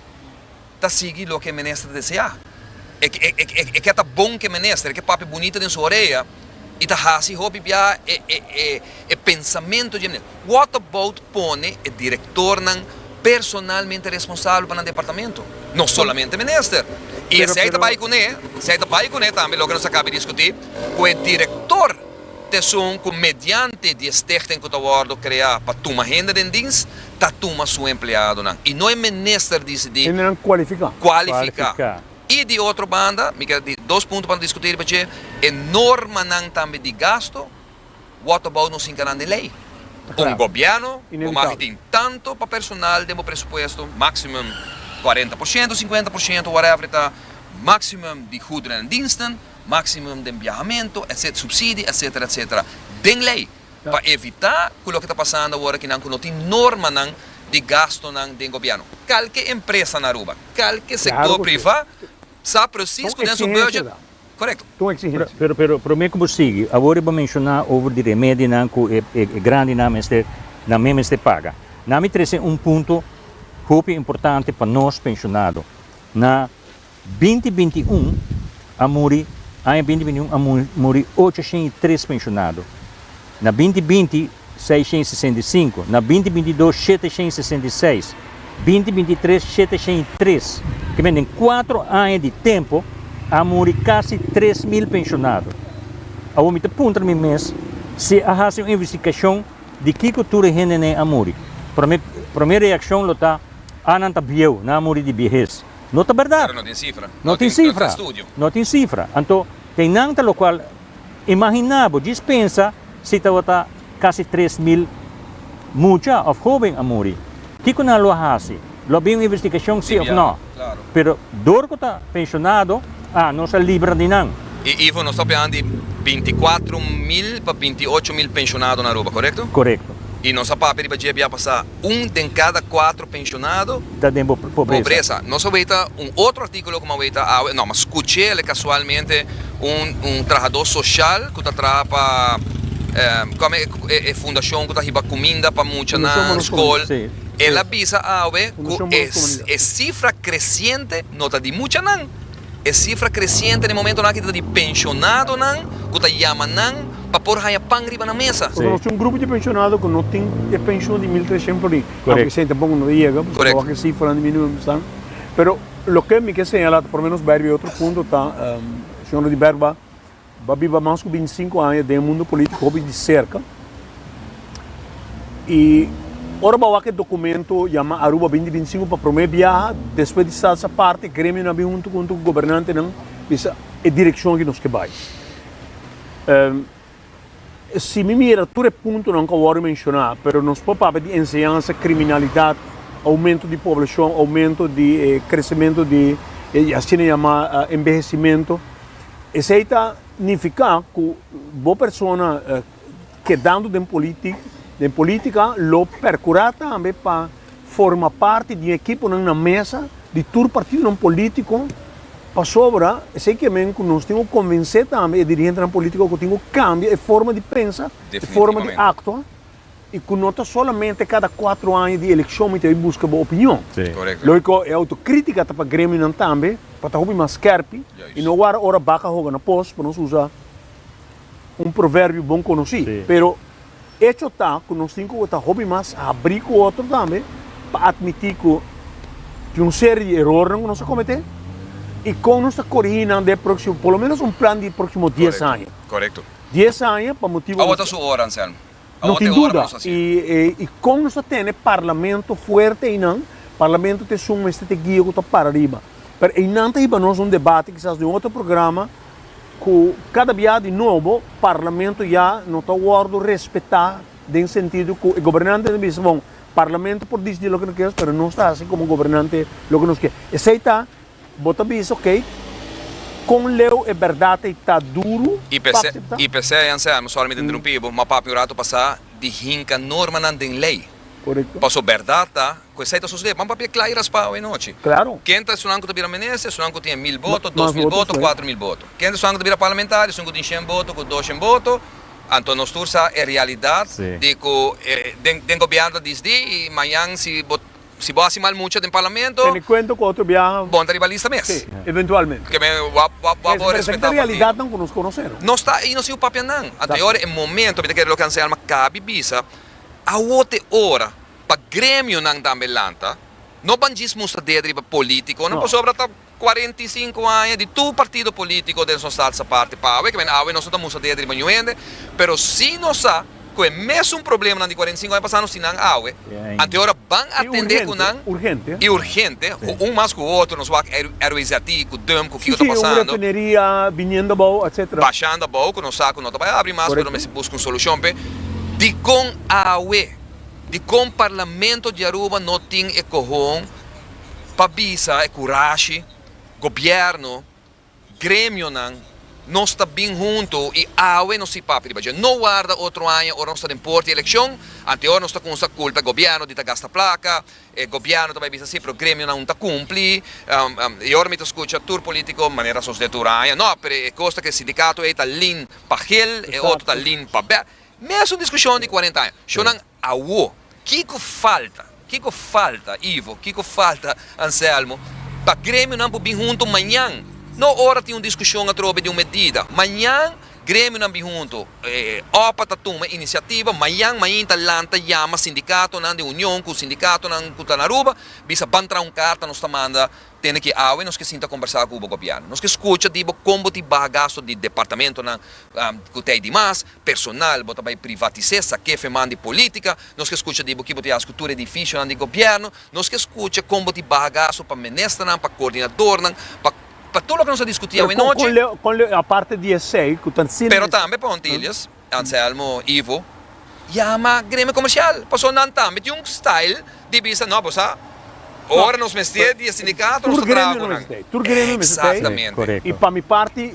ta sigui loke e minister desea. E e e e ke ta bon cu e minister, e ke papia bunita den su orea. i ta hasi hopi bia e pensamentu dje manera. What about pone e direktornan personalmente responsabel pa nan departamento? No solamente minister. I esei ta bai kuné, esei ta bai kuné tambe loke nos a kaba di diskutí ku e direktor ta esun ku mediante di e stichting ku ta wòrdu kreá pa tuma hende den dins, ta tuma su empleadonan i no e minister disidí kualifiká. I di otro banda, mi keda di dos punto pa no diskutí riba dje, e normanan tambe di gasto, wòt abou nos hinka nan den lei. Un gobièrnu bo magi tin tantu pa personal den bo presupuesto, maximum cuarenta por ciento, cincuenta por ciento, whatever e ta, maximum di goederen en diensten, maximum den biahamento, etc, subsidie, etcetera, etcetera, den lei. pa evitá ku loke ta pasando awor aki nan ku no tin normanan di gastonan den gobièrnu. Kalke empresa na Aruba, kalke sektor privá sa presis ku den su bùdjet korekto. Pero promé ku bo sigui, awor i bo menshoná over di remedinan ku e grandinan mester, nan mes mester paga. Na mi trese un punto hopi importante pa nos penshonado, na Binti binti i un a muri Aña binti binti i un a muri ocho shen i tres penshonado. Na binti binti, seis shen i sesenta i sinku. Na binti binti i dos, shete shen i sesenta i seis. Binti binti i tres, shete shen i tres. Ke men den kuatro aña di tempu a muri kasi tres mil penshonado. Awor mi ta puntra mi mes si a hasi un investigashon di kiko tur e hende n'e a muri. Promé promé reakshon lo ta, Ah nan ta bieu, nan a muri di biehes. No ta berdad. Pero no tin cifra. No tin cifra. No tin cifra. Anto, kei nan ta locual, imagina bo, djis pensa si tabata casi tres mil mucha of hoben a muri. Kico nan lo a haci? Lo a bin un investigacion si of no? Pero dor cu ta pensionado, ah, nos a libra di nan. Y Ivo, nos ta opinan di binti cuatro mil pa binti ocho mil pensionado na Aruba, corecto? Corecto. Y nos a papia riba dje biapasa. un den kada kuatro penshonado ta den pobresa. Nos awey ta un otro artíkulo ku mi awey ta awe, no, mi skuch'é el kasualmente un trahadó soshal ku ta traha pa kòme e fundashon ku ta hiba kuminda pa muchanan, skol, el a bisa awe ku e sifra kresiente no ta di muchanan. E sifra kresiente den momentonan aki ta di pensionadonan ku ta yama nan pa por haña pan riba nan mesa. Pasobra nos tin un grupo di pensionado ku no tin e penshon di mil treshent por ahi, aunke esei tampoco no ta yega pasobra awor aki e sifranan di minimum estan. Pero loke mi ke señala ta por lo menos bai riba e otro punto ta, Señor Ruddy Bergba Bo biba mas ku bintisinku aña den e mundu polítiko hopi di serka. I ora bo a wak e dokumento yama Aruba binti bintisinku pa promé biaha, despues di salsa parti, gremionan bin huntu ku gobernantenan bisa e direkshon ku nos ke bai. Si mi mira tur e puntonan ku a wòrdu menshoná, pero nos por papia di enseñansa, kriminalidat, oumentu di poblashon, oumentu di e kresementu di e asina yama enbehesimentu. Esei ta nifiká ku bo persona kedando den polítik, den polítika lo perkurá tambe pa forma parti di un ekiponan na mesa di tur partidonan polítiko pasobra esei ke men ku nos tin ku konvensé tambe e dirigentenan polítiko ku tin ku kambia e forma di pensa, e forma di aktua. I ku no ta solamente kada kuatro aña di elekshon mi ta bai buska bo opinion. Logiko e autokritika ta pa gremionan tambe pa ta hopi mas skèrpi i no wara ora baka hoga na pos, pa nos usa un proverbio bon konosí. Pero echo ta ku nos tin ku ta hopi mas habrí ku otro tambe pa atmití ku tin un serie di erornan ku nos a kometé i kon nos ta korigí nan den e próksimo, por lo ménos un plan di e próksimo dies aña. Dies aña pa motibu. No tin duda, i e i kon nos ta tene parlamento fuerte einan, parlamento ta esun mester ta e guia ku ta para riba. Pero einan ta hiba nos un debate, kisas den otro programa, ku kada bia di nobo parlamento ya no ta wòrdu respetá den sentido ku e gobernante ta bisa, bon, parlamento por dici loke no kos, pero nos ta hasi komo gobernante loke nos ke. Esei ta Bo ta bisa oke kon leu e bèrdat ei ta duru pa akseptá? I p'esei, Anselmo, sòri mi ta interumpí bo, ma papia un ratu pasá di hinka normanan den lei. Pasobra bèrdat ta ku esei ta sosodé. Ban papia kla i raspau e nochi. Ken ta esunnan ku ta bira minister? Esunnan ku tin e mil boto, dos mil boto, kuater mil boto. Ken ta esunnan ku ta bira parlamentario? Esun ku tin shen boto ku doshen boto. Anto nos tur sa e realidat di ku den gobierno ta disdí i mañan si bo Si bo hasi mal mucha den parlamento. Tene cuento cu otro biaha. Bo ta ribalista mes. Sí, eventualmente. Keme wap wap wap bo respeta partido. Pero esaki ta realidadnan cu nos conoce no. Nos ta ahi nos hijo papianan. Anto e ora e momento mi ta kere lo cu Anselma cabi bisa. Awo ta e ora pa gremionan tambe lanta. No bandjis mustra dedo riba politiconan pasobra ta. Cuarenta y cinco aña di tur partido politico den su salsa parti pa awe, caminda awe nos no ta mustra dede riba ñu hende, pero si nos sa cu e mesun problemanan di cuarenta y cinco aña pasado nos tin nan awe, anto e ora ban a tende cu nan, y urgente, cu un mas cu otro nos wak RWZT cu DUMP cu kico ta pasando, bashando abao cu nos sa cu no ta bay abri mas, pero mester busca un solucion p'e, dicon awe, dicon Parlamento di Aruba no tin e cohon. pa bisa e kurashi, gobièrnu, gremionan, nos ta bin huntu i awe nos si papia riba dje. No warda otro aña ora nos ta den por di elekshon, anteor nos ta kumsa kulpa e gobièrnu di ta gasta plaka, e gobièrnu ta bai bisa si pero gremionan un ta kumpli, i ora mi ta skucha tur polítiko manera a sosodé tur aña, no, pero e kos ta ku e sindikato ei ta lin pa hel, e otro ta lin pa bè. Mesun diskushon di kuarenta aña. Shornan. Awo, kiko falta, kiko falta Ivo, kiko falta Anselmo pa gremionan por bin hunto mañan? No ora tin un discusion atrobe di un medida. Mañan gremionan bin hunto, opa ta tuma iniciativa, mañan mainta lanta yama sindicatonan den union cu sindicatonan cu ta na Aruba, bisa ban traha un carta nos ta manda Tene ki awe nos ke sinta kombersá ku bo gobièrnu. Nos ke skucha di bo kon bo tin baha gastu di departamentunan ku tei di mas, personal, bo ta bai privatis'é, sak'é fe man di polítika. Nos ke skucha di bo ki bo tin hasi ku tur edifisionan di gobièrnu. Nos ke skucha kon bo tin baha gastu pa ministernan, pa koordinadornan, pa pa tur loke nos a diskutí awe nochi. Pero tambe pa Huntilles. Anselmo, Ivo, yama Gremio Comercial, paso nan tambe tin un style di bisa no bo sa ora nos mester di e sindicato nos ta traha cu nan. Exactamente. Y pa mi parti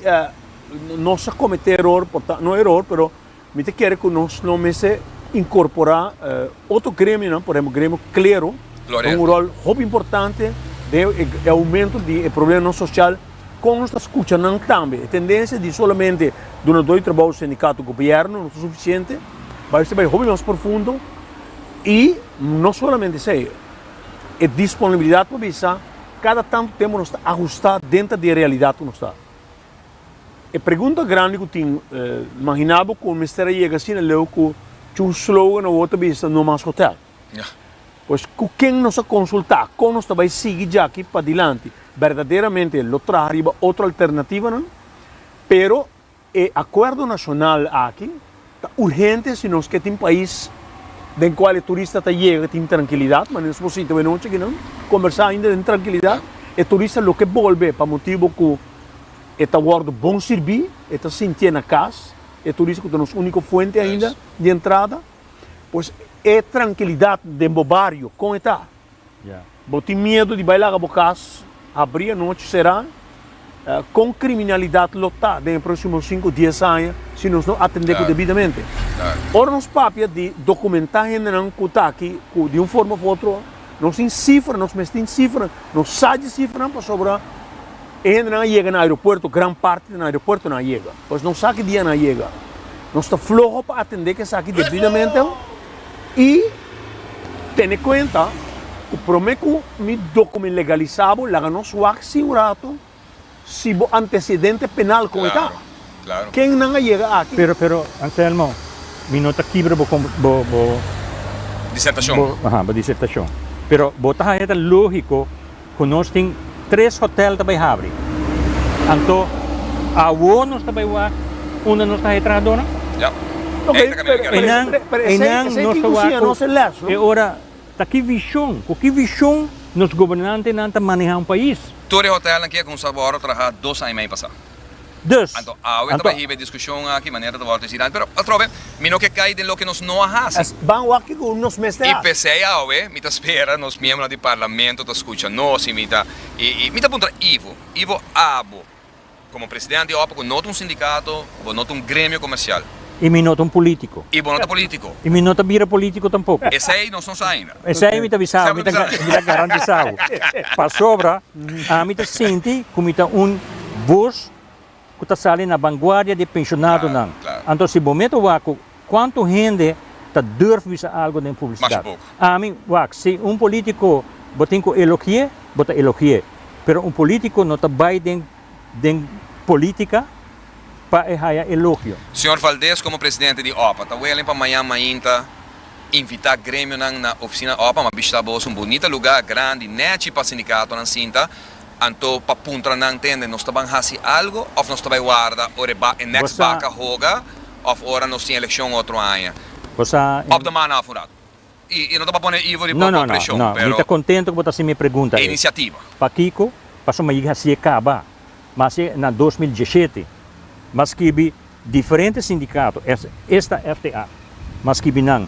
nos a comete eror, no eror pero mi ta kere cu nos no mester incorpora Otro gremionan, por ehempel gremio klero, ta un rol hopi importante den e aumento di e probleman social kon nos ta skucha nan tambe. E tendensia di solamente duna dor di trabou sindikato, gobièrnu no ta sufisiente, bai ser bai hopi mas profundo i no solamente esei, e disponibilidat pa bisa kada tantu tempu nos ta ahusta denta di e realidat ku nos ta. E pregunta grandi ku tin, Imaginá bo ku bo mester a yega asina leu ku tjun slogan na wòrdu ta bisa, No mas hotèl. Pues, ku ken nos a konsultá? Kon nos ta bai sigui djaki padilanti? Berdaderamente lo traha riba otro alternativanan? Pero e akuerdo nashonal aki, Ta urgente si nos ke tin pais den kual e turista ta yega tin trankilidat, manera nos por sinta awe nochi aki nan, kombersá ainda den trankilidat. E turista lo ke bolbe pa motibu ku e ta wòrdu bon sirbí, e ta sintié na kas, e turista ku ta nos úniko fuente ainda di entrada, pues e trankilidat den bo bario kon e ta? Bo tin miedu di bai laga bo cas habri anochi sera? Con criminalidad lo ta den e proximo cinco, dies aña si nos no atende cu debidamente? Ora nos papia di documenta hendenan cu ta aki cu di un forma of otro nos tin cifra, nos mes tin cifra, nos sa dje cifranan pasobra e hendenan a yega na aeropuerto, gran parti ta na aeropuerto nan a yega, pues nos sa ki dia nan a yega. Nos ta floho pa atende cu esaki debidamente. I tene kuenta ku promé ku mi dokumen legalisá bo laga nos wak si un rato si bo antesedente penal kon e ta. Ken nan a yega aki? Pero, pero, Anselmo, mi no ta kibra bo, bo, bo, Disertashon. bo, aha, bo disertashon. Pero bo ta haña ta lógiko Cu nos tin tres hotel ta bay habri. Anto awo nos ta bay wak unda nos ta hae trahadonan? Yap. Ey ta camina di Pero Enan, caribe. pero esey enan esey nos tin ta cu wak siña cu nos e les, no? E ora ta ki vision, cu ki vision nos gobernantenan ta maneha un pais. Tur e hotelnan kia cu un sabor traha dos aña y medio pasa. Dus, anto. Anto a hiba e diskushon aki manera ta wòrdu hasi nan. Pero atrobe, mi no ke kai den loke nos no a hasi. Es ban wak ku nos mester hasi. I p'esei awe mi ta spera nos miembronan di Parlamento ta skucha nos i mi ta i i mi ta puntra Ivo, Ivo abo komo presidente di Òpa ku no ta un sindikato, ku bo no ta un gremio komersial. I mi no ta un polítiko. I bo no ta polítiko. I mi no ta bira polítiko tampoko. Esei nos no sa ainda. Esei mi ta bisa bo, mi ta garantisa bo. Pasobra ami ta sinti ku mi ta un bos ku ta sali na banguardia di e pensionadonan. Anto si bo mete wak ku kuantu hende ta durf bisa algu den publisidat. Ami, wak, si un polítiko bo tin ku elogi'é, bo ta elogi'é. Pero un polítiko no ta bai den den politica pa e haya elogio. Señor Valdés como Presidente di opa ta welen pa mañan mainta invita gremionan na oficina opa ma bishita abos un bunita lugar grandi nechi pa sindicatonan sinta anto pa puntra nan tende nos ta ban haci algo of nos ta bay warda ora e ba e next baca hoga of ora nos tin eleccion otro aña Bosa en. Op de mana of un rato. No, no, no, no. Mi ta contento cu bo ta haci mi e pregunta ei. Pakico? Pasobra mi yega haci e caba. Mi haci e na dos mil dieschete. Mi scribi diferente sindicato, es, esta FTA, mi scribi nan,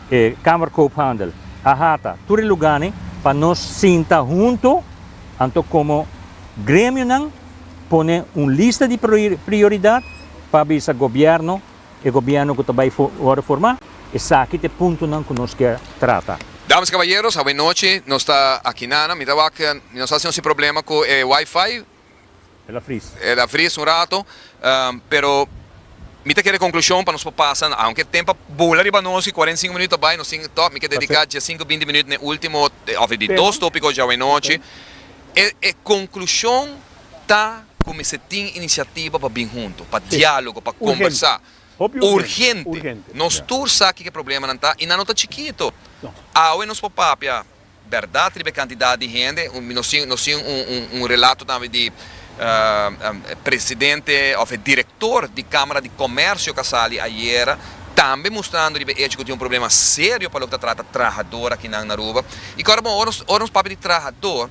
e Kamer Koophandel, AHATA, tur e luganan, pa nos sinta hunto, anto como gremionan pone un lista di prioridad pa bisa gobierno E gobierno cu ta bay worde forma, esaki ta e puntonan cu nos kier trata. Dames y caballeros, awe nochi nos ta aki nana. Mi ta wak, mi no sa si nos tin problema cu e wifi. El a fris. El a fris un rato, pero mi ta kere conclusion pa nos por pasa, aunke tempo a bula riba nos y cuarenta y cinco minuut ta bay, nos tin tok, mi ke dedica diasinco, binti minuut na e ultimo, of di dos topico dje awe nochi. E conclusion. ta ku mester tin inisiativa pa bin huntu, pa diálogo, pa kombersá. Urgente! Nos tur sa kiko e problemanan ta i nan no ta chikitu. Awe nos por papia bèrdat riba e kantidat di hende. Nos tin un relato tambe di presidente òf e direktor di Kámara di Komèrsio Kasali ayera, tambe mustrando riba e echo ku tin un problema serio pa loke ta trata trahador akinan na Aruba. I kòrda bon, ora nos papia di trahador.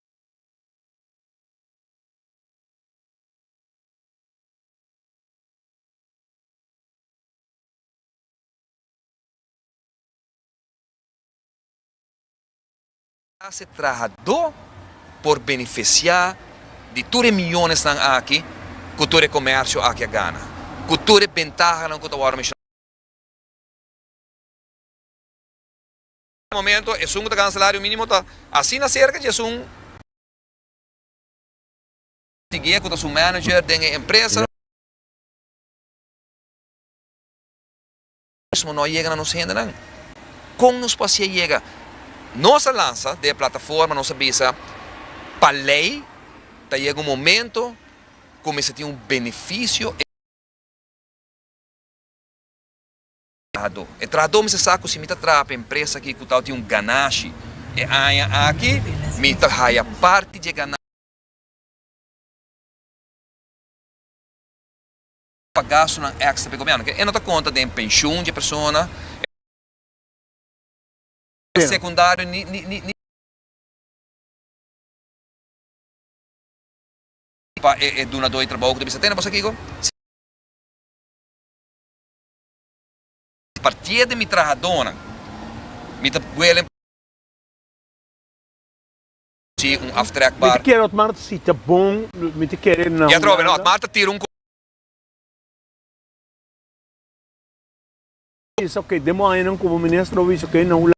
klase trahadó por benefisiá di tur e miónesnan aki ku tur e komèrsio aki a gana, ku tur e bentahanan ku ta wòrdu menshonado. E momento esun ku ta gana salario minimo ta asina serka di esun. Siguié ku ta su manager den e empresa. Mismo no a yega na nos hendenan. Kon nos por hacié yega? Nos a lansa den e plataforma nos a bisa pa ley ta yega un momento ku mester tin un beneficio. trahadó. E trahadó mester sa ku si mi ta traha pa empresa aki ku ta tin un ganashi e aña aki, mi ta haya parti di e ganashi pa gastunan èkstra pa e gobièrnu. Ke e no ta konta den penshun di e persona, e sekundario ni pa e dunadó di trabou ku ta bisa tene bos akiko. Partié di mi trahadónan, mi ta buelen. Ci un aftrek bar. Mi ta kere Otmar ta si ta bon, mi ta kere nan. Jethro, Bueno, Otmar ta tira un. Bisa, Oke, den bo añanan komo minister bo bisa, Oke, nan Hulanda.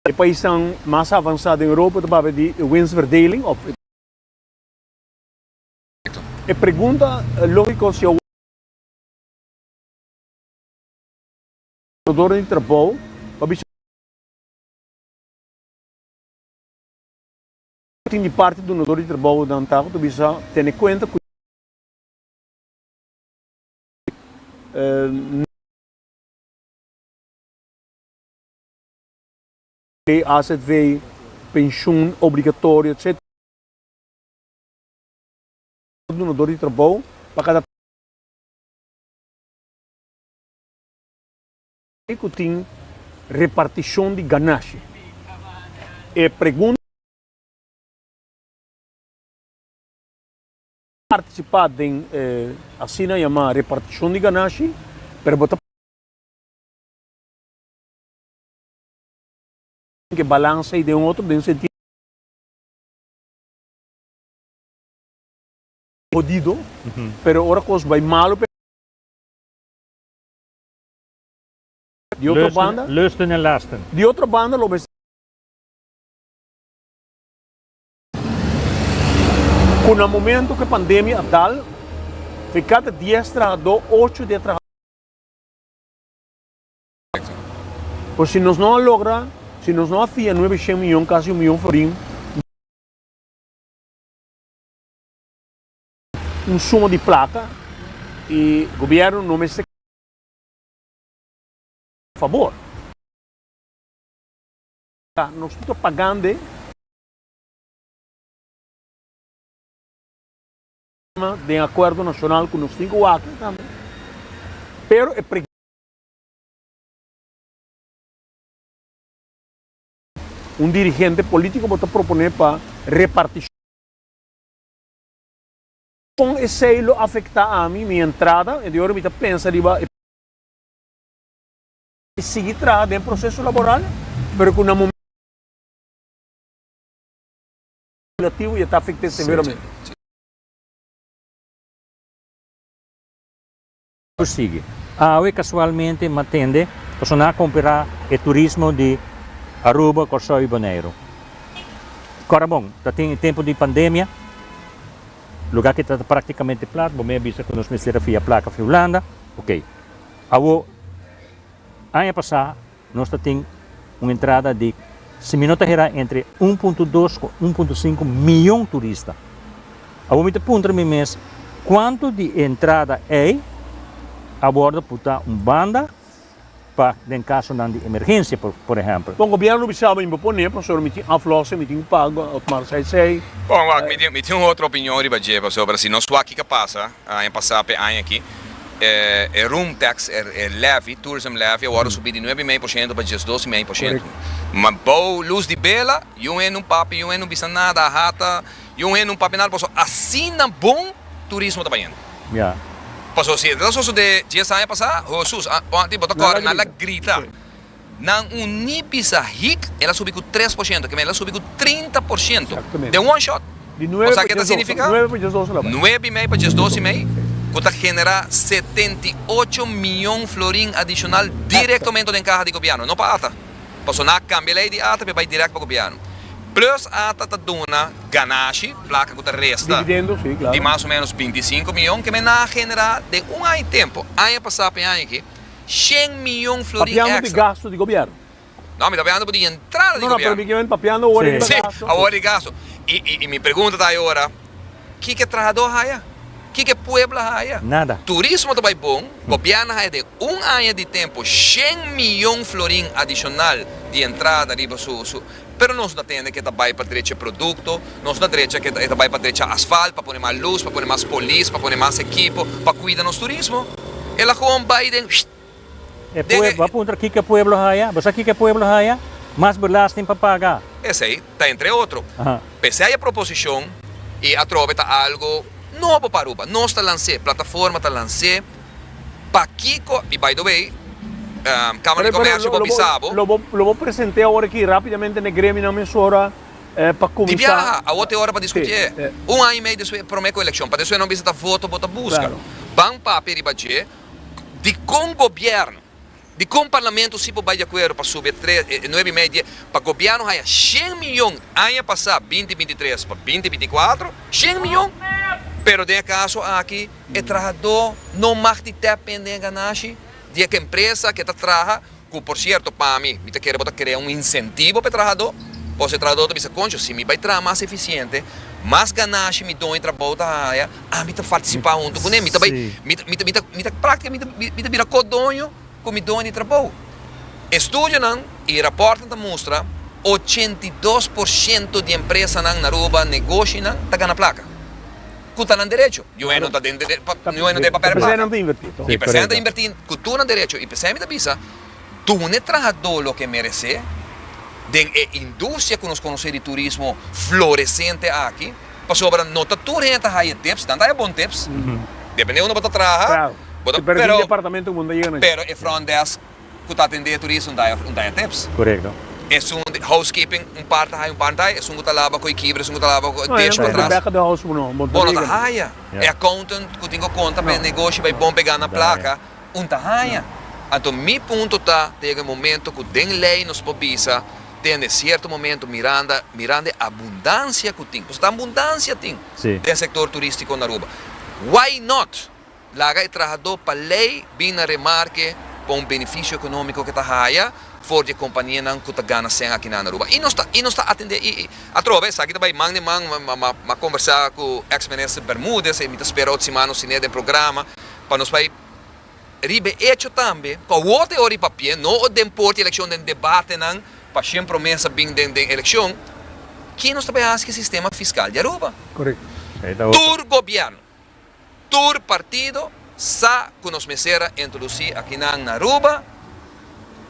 E paisnan mas avansá den Europa ta papia di e winstverdeling òf e. E pregunta lógiko si awor ta un oportunidat pa un trabajador di trabou pa bisa ku e tin di parti di dunador di trabounan ta ku ta bisa tene kuenta ku e lei azv, penshun obligatorio etcetera. Dunador di trabou pa kada. Di ku tin repartishon di ganashi. E pregunta. Partisipa den e asina yama repartishon di ganashi pero bo ta. Tin ke balansa ei den otro den sentido. Hodido, pero ora cos bay malo p'e. Di otro banda. Lusten en lasten. Di otro banda lo mester. Cu na momento cu e pandemia a dal, fe cada dies trahador ocho di e trahador. Pues si nos no a logra, si nos no a fia nuebe shen miyon, casi un miyon florin. un suma di plata y gobierno no mester keda a favor nos no ta pagande den acuerdo nacional cu nos tin cu aki tambe pero e. Un dirigente polítiko bo ta proponé pa repartishon. Kon esei lo afektá ami, mi entrada? E di ora mi ta pensa riba e. Sigui traha den proseso laboral, pero ku na momen. Legislativo ya ta afekt'é severamente. Prosigi. Awe kasualmente m'a tende pasobra nan a komperá e turismo di Aruba, Kòrsou i Boneiru. Kòrda bon, ta tin e tempu di pandemia, lugá ki ta praktikamente plat, bo mes a bisa ku nos mester a fia plaka fi Hulanda. Oke. Awo, aña pasá. Nos ta tin un entrada di, si mi no ta herá, entre un punto dos ku un punto sinku mion turista. Awor mi ta puntra mi mes, kuantu di e entrada ei a wòrdu putá un banda pa den kasonan di emergensia, por ehèmpel? Bon, gobièrnu mi sa bo mi por pone, pasobra mi tin aflòse, mi tin ku pagu, otmar seisei. Bon, wak, mi tin un otro opinion riba dje, pasobra si nos wak kiko pasa. Aña pasá p'e aña aki, e room tax, e levy, tourism levy, a wòrdu subí di nuebe i mei por shento pa diesdos i mei por shento. Ma bou lus di bela, yun hende nun papia, yun hende nun bisa nada, a hata, yun hende nun papia nada paso asina bon turismo ta bayendo. Paso si e ta sosodé dies aña pasá, hosus, a, pon aki bo ta kòrè nan la grita. Nan un nipi sa hik, el a subi ku tres por shento, kemey el a subi ku trinta por shento den one shot. Konsa ke ta signifiká? Nuebe i mei pa djes dos i mei, ku ta generá setenta i ocho mion florin adishonal direktomento den kaha di gobièrnu, no pa ata, pasobra nan a kambia lei di ata pa e bai dirèkt pa gobièrnu. Plus ata ta duna ganashi, plaka ku ta resta, di mas o ménos binti i sinku mion, kemey nan a generá den un aña tempu, aña pasá pa e aña aki, Shen miyon florin extra. Papiando di gasto di gobierno. No, mi ta papiando di entrada di gobierno. No, no, pero mi kier papiando ora riba gasto. Si, ora di gasto. Y mi pregunta ta ayora, kiko e trahador haya? Kiko e pueblo haya? Nada. Turismo ta bay bon, gobierno haya den un aña di tempo shen miyon florin adicional di entrada riba su. Pero nos ta tende ke ta bai pa drecha e produkto, nos ta drecha ke e ta bai pa drecha asfalt, pa pone mas lus, pa pone mas polis, pa pone mas ekipo, pa kuida nos turismo. El a gewoon bai den shtt den e. Bo a puntra kiko e pueblo haya? Bo sa kiko e pueblo haya? Mas belasting pa paga. Esei ta entre otro. P'esei e proposishon i atrobe ta algo nobo pa Aruba. Nos ta lans'é, plataforma ta lans'é. Pakiko, y by the way, Kamer di Komersio por bisa bo. Lo bo presente awor aki rapidamente n'e gremionan mesora pa kuminsa. Di biaha, awor t'e ora pa diskutié. Un aña y mei despues e prome ku elekshon, padesué nan bisa ta voto bo ta buska. Ban papia riba dje dikon gobièrnu. Dikon Parlamento si por bai di akuerdo pa subi e nuebe i media pa Gobièrnu haya shen miyon aña pasá, binti binti tres pa binti binti kuatro? Shen miyon! Pero den e kaso aki e trahadó no mag tin tèp pen den e ganashi di e empresa ku e ta traha, ku por sierto pa mi mi ta kere bo ta krea un insentivo pa e trahadó, kos e trahadó ta bisa, Koncho, si mi bai traha mas efisiente, mas ganashi mi dueño di trabou ta haya. Ami ta participa hunto cu ne, mi ta bay, mi ta, mi ta, mi ta, mi ta practica, mi ta, mi ta bira co-doño cu mi doño di trabou. Estudionan y raportnan ta mustra ochenta i dos por ciento di empresanan na Aruba, negoshinan, ta gana placa. Cu ta nan derecho. Di un hende no ta den derecho, di un hende no ta den papel di placa. Mi p'esei nan ta inverti, toh. Mi p'esei nan ta inverti cu tur nan derecho y p'esei mi ta bisa. Duna e trahadó loke e meresé den e industria ku nos konosé di turismo floresente aki, pasobra no ta tur hende ta haya tips, nan ta haya bon tips, depende unda bo ta traha, bo ta, pero, pero e front desk ku ta atendé e turista no ta haya tips. Esun di housekeeping, un par ta haya, un par no ta haya, esun ku ta laba ku e kibra, esun ku ta laba ku e dish pa tras, bo no ta haya, e accountant ku tin ku konta pa e negoshi bai bon pe gana plaka, un ta haña. Anto mi punto ta, ta yega e momento ku den lei nos por bisa, tende sierto momento miranda, miranda e abundansia ku tin, pasobra abundansia tin den sektor turistiko na Aruba. Why not laga e trahadó pa lei bin na remarke pa un benefisio ekonómiko ke ta haña for di e kompanianan ku ta gana sèn akina na Aruba. I nos ta, i nos ta atendé, i atrobe esaki ta bai man den man, m'a konversá ku eks minister Bermudez, e mi ta spera ot siman nos ten'é den programa. Pa nos bai riba e echo tambe, pa wota e ora di papié, no ora den por di elekshon, den debatenan, pa shen promesa bin den elekshon, ke nos ta bai hasi ku e sistema fiskal di Aruba? Tur gobièrnu, tur partido sa ku nos mester a introdusí akinan na Aruba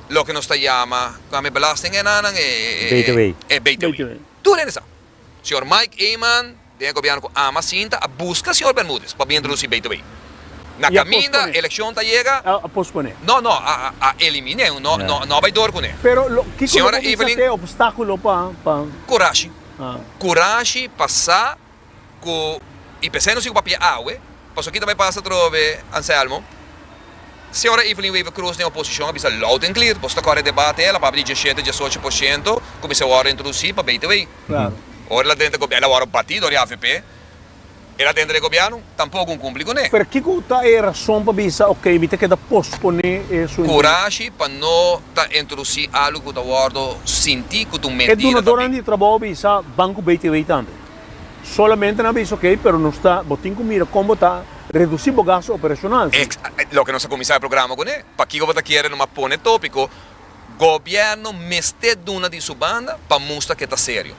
loke nos ta yama, kua mi belasting enanan? e btw. Tur hende sa. Señor Mike Eman, Den e gobierno cu ama sinta a busca señor Bermudez pa bin introduci bay to bay. Na caminda, eleccion ta yega. A pospone. No, no, a elimine. No a bay door cune. Pero lo, kico lo bo bisa ta e obstaculo pa, pa. Curashi. Curashi pa sa cu y pesey no sigue pa pia awe, pasobra ki ta bay pasa atrobe, Anselmo? Señora Evelyn Wever Croes den oposicion a bisa loud and clear, Boso ta core e debate e la papia di dieschete, diesocho por ciento cu mi sa worde introduci pa bay to bay. Claro. Ora el a denter gobierno, el a wòrdu batí dor di avp. El a denter e gobierno, tampoco un cumpli cuné. Pero kico ta e razon pa bisa, ok, mi ta keda posponé e su. Curashi pa no ta introducí algo cu ta wòrdu sintí cu ta un mentira ta bin. E dunadornan di trabou a bisa Banco BTW tambe. Solamente nan a bisa, ok, pero nos ta, bo tin cu mira con bo ta reducí bo gasto operacional, sí. Ex, loke nos a cuminsá e programa cuné. Pakico bo ta kere nomas pone tópico. Gobièrnu mester duna di su banda pa mustra ke ta serio.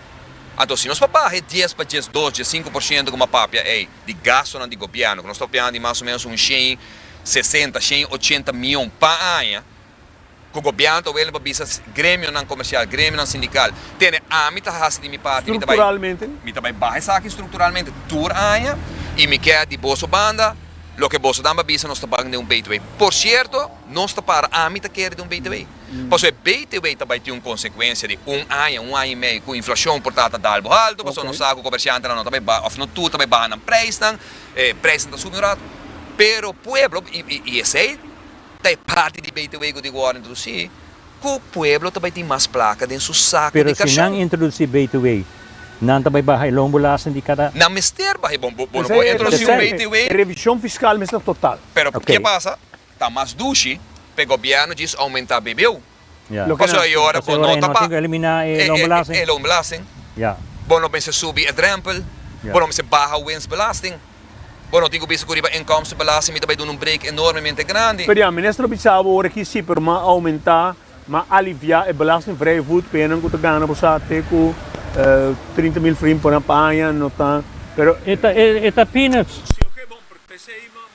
Anto si nos pa baha e dies pa djes dos, djes sinku por shento ku m'a papia ei di gastonan di gobièrnu, ku nos ta opinan di mas o menos un shen sesenta, shen ochenta mion pa aña, ku gobièrnu ta wele pa bisa gremionan komersial, gremionan sindikal, tende ami ta hasi di mi parti, mi ta bai, mi ta bai baha esaki strukturalmente tur aña, i mi kè di boso banda loke boso nan ba bisa nos ta ban den un btw. Por shierto. Nos ta para. Ami ta kere di un BTW. Paso e BTW ta bai tin un consecuencia di un aña, un aña y medio cu inflacion por ta ta dal bo alto, paso nos sa cu comerciantenan no ta bai baha, of no tur ta bai baha nan prijsnan, e prijsnan ta subi un rato. Pero pueblo, y esey ta e parti di BTW cu tin cu worde introduci, cu pueblo ta bai tin mas placa den su saco di cashon. Pero si nan introduci BTW, nan ta bai baha e loan bolasten di cada. Nan mester baha e. Bo no por introduci un BTW. E revision fiscal mester total. Pero ke pasa? Ta mas dushi p'e gobièrnu djis oumentá BBU. Paso e ora ku no ta pa e loonbelasting, bo no mester subi e drèmpel, bo no mester baha winstbelasting, bo no tin ku bisa ku riba inkomstenbelasting mi ta bai duna un break enormemente grandi. Pero ya, Minister lo bisa bo ora ki siper m'a oumentá, m'a aliviá e belastingvrijvoed p'e nan ku ta gana bo sa te ku trinta mil frim por aña, no ta, pero. E ta peanuts. Si oké bon, pero p'esei m'a.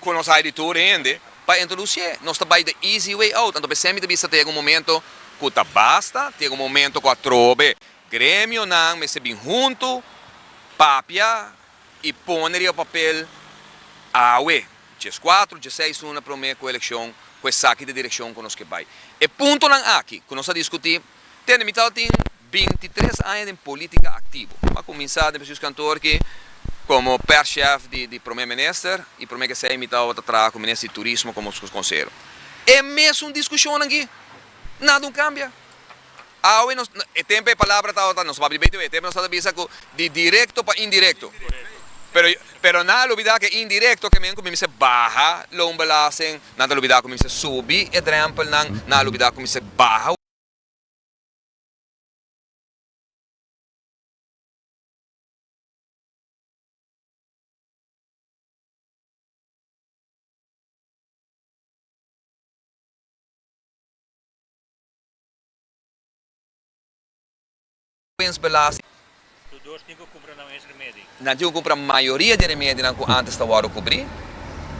cu nos a hay di tur hende pa introduce. Nos ta bay de easy way out. Anto p'esei mi ta bisa tegen un momento cu ta basta, tegen un momento cu atrobe gremionan mester bin hunto, papia y pone riba papel awe, dje cuatro, dje seis luna prome cu eleccion, cu esaki ta direccion cu nos ke bay. E puntonan aki cu nos a discuti Tene mi tata tin bintitres aña den politica activo. Mi a cuminsa den presius kantoor aki como perschef di Prome Minister y prome ke esei mi tabata traha cu Minister di Turismo como su consehero. E mesun discusionnan aki nada no cambia. Awe nos e tempo e palabra tabata nos papia di BTW e tempo nos tabata bisa cu di directo pa indirecto pero pero nan a olbida ke indirecto ke men cu mi mester baha loonbelasting Nan ta lubida ku mi mester subi e drèmpel, nan na lubida ku mi mester baha. Wens Belasting. Su dos tin ku kumpra nan mes remedi. Nan tin ku kumpra mayoria di remedinan ku antes ta wòrdu kubrí.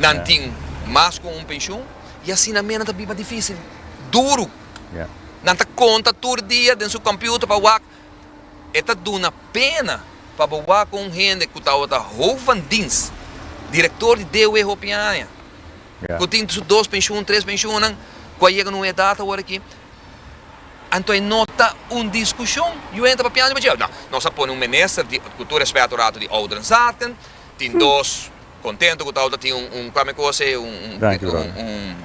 Nan tin mas ku un penshun. I asina mera nan ta biba difísil, duru. Nan ta konta tur dia den su kòmpiuter pa wak. E ta duna pena pa bo wak ku un hende ku tabata Hoof van Dienst, direktor di DW hopi aña, ku tin su dos penshun, tres penshunnan, ku a yega na un edat awor aki. Anto e no ta un diskushon. Yu entra papiando i bo dje, Nau, nos a pone un minister di, ku tur respeto rato, di ouderenzaken. Tin dos kontento ku tawata tin un, kua mi kos e, un.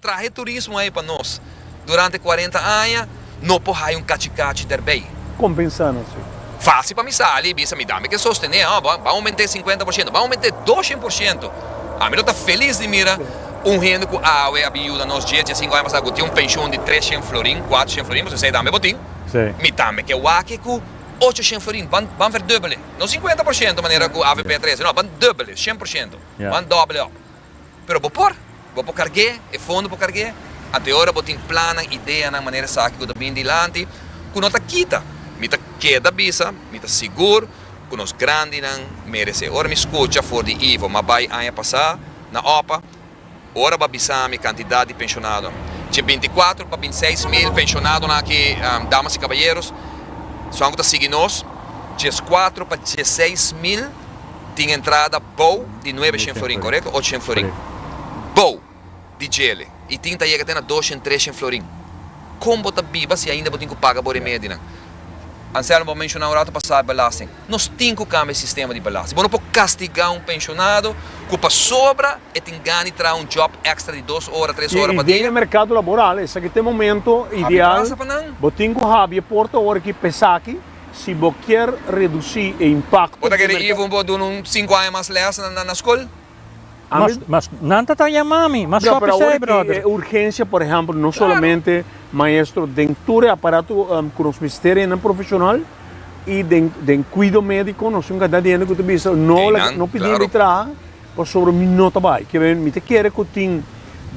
Traha e turismo ei pa nos. Durante cuarenta aña no por haya un cachi cachi derbey. Compensá nos ei. Fácil pa mi sali y bisa mi dame ke sostené, oh, bo ban aument'é cincuenta por ciento, ban aument'é doshent por ciento. Ami lo ta feliz di mira un hende cu awe a bin yuda nos dies, dies cinco aña pasá cu tin un pension di trescient florin, cuatrocient florin, pasobra esei dame bo tin. Mi dame ke wak cu ochocient florin, ban, ban verdubbel'é. No cincuenta por ciento manera cu avp a trece, no, ban dubbel'é, cien por ciento. Ban doble op. pero bo por, bo por karg'é, e fondo por karg'é, anto e ora bo tin plannan, ideanan, manera esaki ku ta bini dilanti, ku no ta kita. Mi ta keda bisa, mi ta sigur ku nos grandinan meres'é. Ora mi skucha for di Ivo ma bai aña pasá na opa, ora bo a bisami e kantidat di penshonadonan, dje binti kuatro pa binti seis mil penshonadonan aki, damas i kabayeros, sounan ku ta sigui nos, djes kuatro pa djes seis mil tin entrada bou di nuebe shen florin, korekto? Ocho shen florin. Bou di djele. I tin ta yega te na dos shen, tres shen florin. Kon bo ta biba si ainda bo tin ku paga bo remedi nan? Anselmo, bo a menshoná un ratu pasá belasting. Nos tin ku kambia e sistema di belasting. Bo no por kastigá un penshonado ku pasobra e tin gana di traha un djòb èkstra di dos ora, tres ora pa dia. I den e merkado laboral esaki ta e momentu ideal. Habi prasa pa nan. Bo tin ku habi e porta ora ki p'esaki. Si bo kier reduci e impacto Bo ta kere di ivo bo duna un sinku aña mas les na skol? Mas, mas nan ta ta yama mi, mas Claro, pero kopi awor esei, ki brother. e urgencia, por ehempel, no solamente maestro den tur e aparato ku nos mester hende profesional i den den kuido médiko nos tin ku kantidad di hende ku ta bisa no la Einan, no pidi mi claro. traha pasobra mi no ta bai. Ke bai mi ta kere ku tin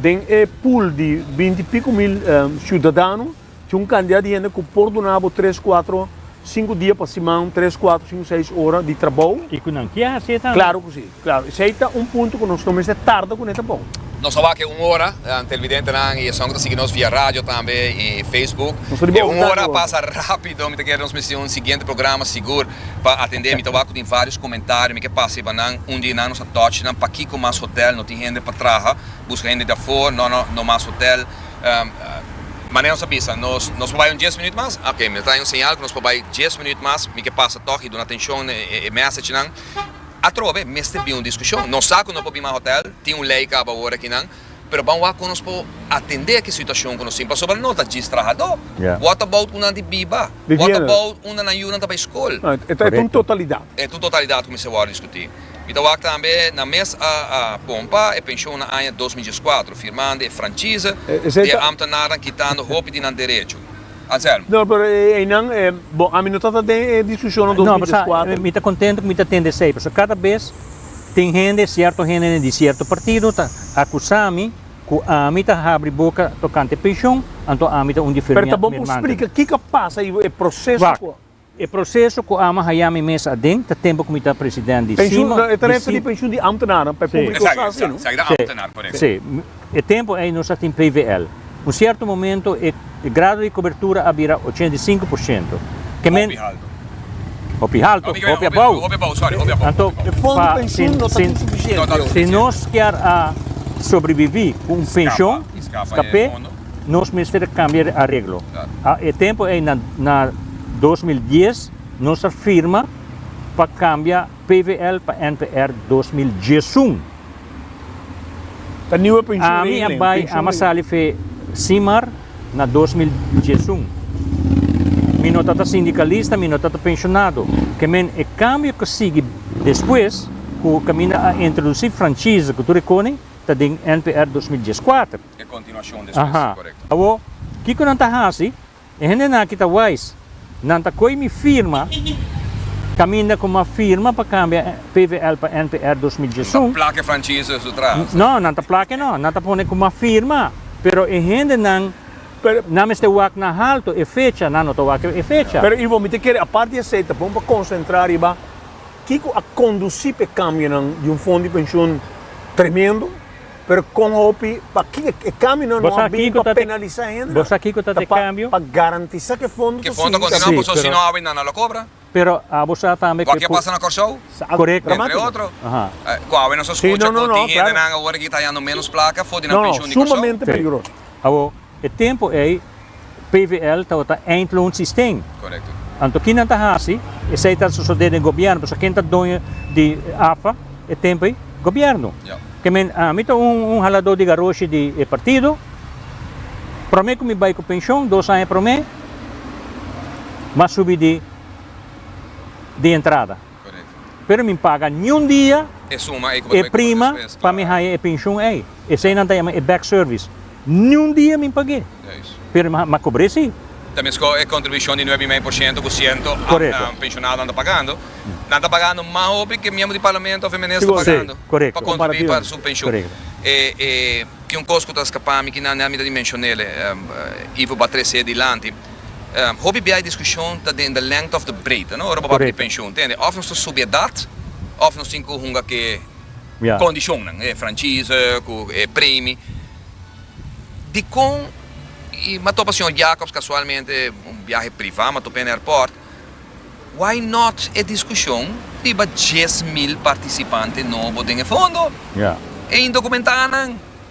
den e pool di binti i piko mil siudadano Tin un kantidat di hende ku por duna bo tres, kuatro, sinku dia pa siman, tres, kuatro, sinku, seis ora di trabou. I ku nan ke hasi e tambe. Klaru ku si. Klaru. Esei ta un punto ku nos no mester tarda ku neta bon. Nos a wak e un ora, televidentenan i esun ku ta sigui nos via radio tambe i Facebook. Nos ta di bo overtime. E un ora a pasa rápido. Mi ta kere nos mester tin un siguiente programa sigur pa atendé. Mi ta wak ku tin vários komentario. Mi ke pasa riba nan un di nan. Nos a touch nan pakiko mas hotel. No tin hende pa traha. Buska hende di afó. No, no, no mas hotel. Manera nos a bisa, nos por bai un dies minuut mas? Oké, mi ta traha un señal ku nos por bai dies minuut mas. Mi ke pasa tòg i duna atenshon na e mèsechnan. Atrobe, mester bin un diskushon. Nos sa ku no por bin mas hòtèl, tin un lei kaba ora akinan, pero ban wak kon nos por atendé ki situashon ku nos tin, pasobra no ta djis trahadó. Wòt about ku nan di biba? Wòt about unda nan yunan ta bai skol? E ta un totalidat. E ta un totalidat ku mester wòrdu diskutí. Mi ta wak tambe na mes a a pompa e penshon na aña dos mil dieskuater, firmando e franchise di e ámtenarnan kitando hopi di nan derecho. Anselmo. No, pero e einan, e, bon, ami no tata den e discushonnan dos mil dieskuater. Mi ta contento cu mi ta tende esey, pasobra cada bes tin hende, cierto hendenen di cierto partido ta acusami cu ami ta habri boca tocante e penshon, anto ami ta un di Pero ta bon pa u splica kico pasa y e proceso cu. E proseso ku ama haya mi mes aden ta tempu ku mi ta president di Sima, di Sima. Si, e tempu ei nos a tin PVL. Un sierto momento e grado di kobertura a bira ochenta i sinku por siento. Ke men. Hopi haltu. Hopi haltu. Hopi abou. Hopi abou, sorry. Hopi abou. Anto, pa, si, si, si nos kier a sobreviví ku un penshon, skapé. nos mester a cambia di areglo. A e tempo ei na, na 2010 nos a firma pa cambia PVL pa NPR 2011. Ta nieuwe pensioen Ami a regeling, bai, pensioen ama regeling. sali fe Simar na 2011. Mi no tata sindicalista, mi no tata pensionado. Ke men e cambio cu sigui despues, cu caminda a introduci franchise cu tur e cone, ta den NPR 2014. Aha. Awor, kiko nan ta hasi? E hendenan aki ta wais. Nan ta koe mi firma, kaminda ku m'a firma pa kambia PVL pa NPR dos mil diesun. No, nan ta plake no. Nan ta pone ku m'a firma. Pero e hendenan, nan mester wak na haltu e fecha. Nan no ta wak e fecha. Pero Ivo, mi ta kere, apart di esei, ta bon pa konsentrá riba kiko a kondusí pa e kambionan di un fon di penshun tremendo, Pero kon hopi, pa ki e kambio no a bin pa penalisa hende? Ta pa garantisa ku e fondo ta sigui ta bini. Paso si no habi nan nan lo kobra. Wak a pasa na Kòrsou? Entre otro. Ku awe nos a skucha ku tin hendenan awor aki ta hayando ménos plaka for di nan penshun di Kòrsou. E tempu ei PVL tabata eindlo un sistem. Correcto. Anto ki nan ta hasi? Esei ta sosode den gobierno, pasobra ken ta doño di AFA e tempu ei? Gobierno. Ja. Ke men, ah, mi ta un, un halado di garoshi di e partido, prome ku mi bai ku penshon, dos aña prome, m'a subi di, di entrada. Pero mi paga niun dia e prima pa mi haña e penshun ei. Esei nan ta yama e back service. Niun dia mi pag'é, pero mi a kobr'é sí. Ta mescó e kontribushon di nuebe i mei por shento ku siento penshonado nan ta pagando. Nan ta pagando mas hopi ku e miembro di parlamento òf e minister ta pagando pa kontribuí pa su penshun. Ke un kos ku ta skapami kinan, mi ta di menshon'é Ivo Batrese dilanti. Hopi biaha e diskushon ta den de lengte òf de breedte, no? Ora bo papia di penshon, tende, òf nos ta subi edat, òf nos tin ku hunga ku e kondishonnan, e franchise ku e premi. Dikon, i m'a topa señor Jacobs kasualmente un biahe privá, m'a top'é na airport, why not e diskushon riba dies mil partisipante nobo den e fondo? E indokumentá nan.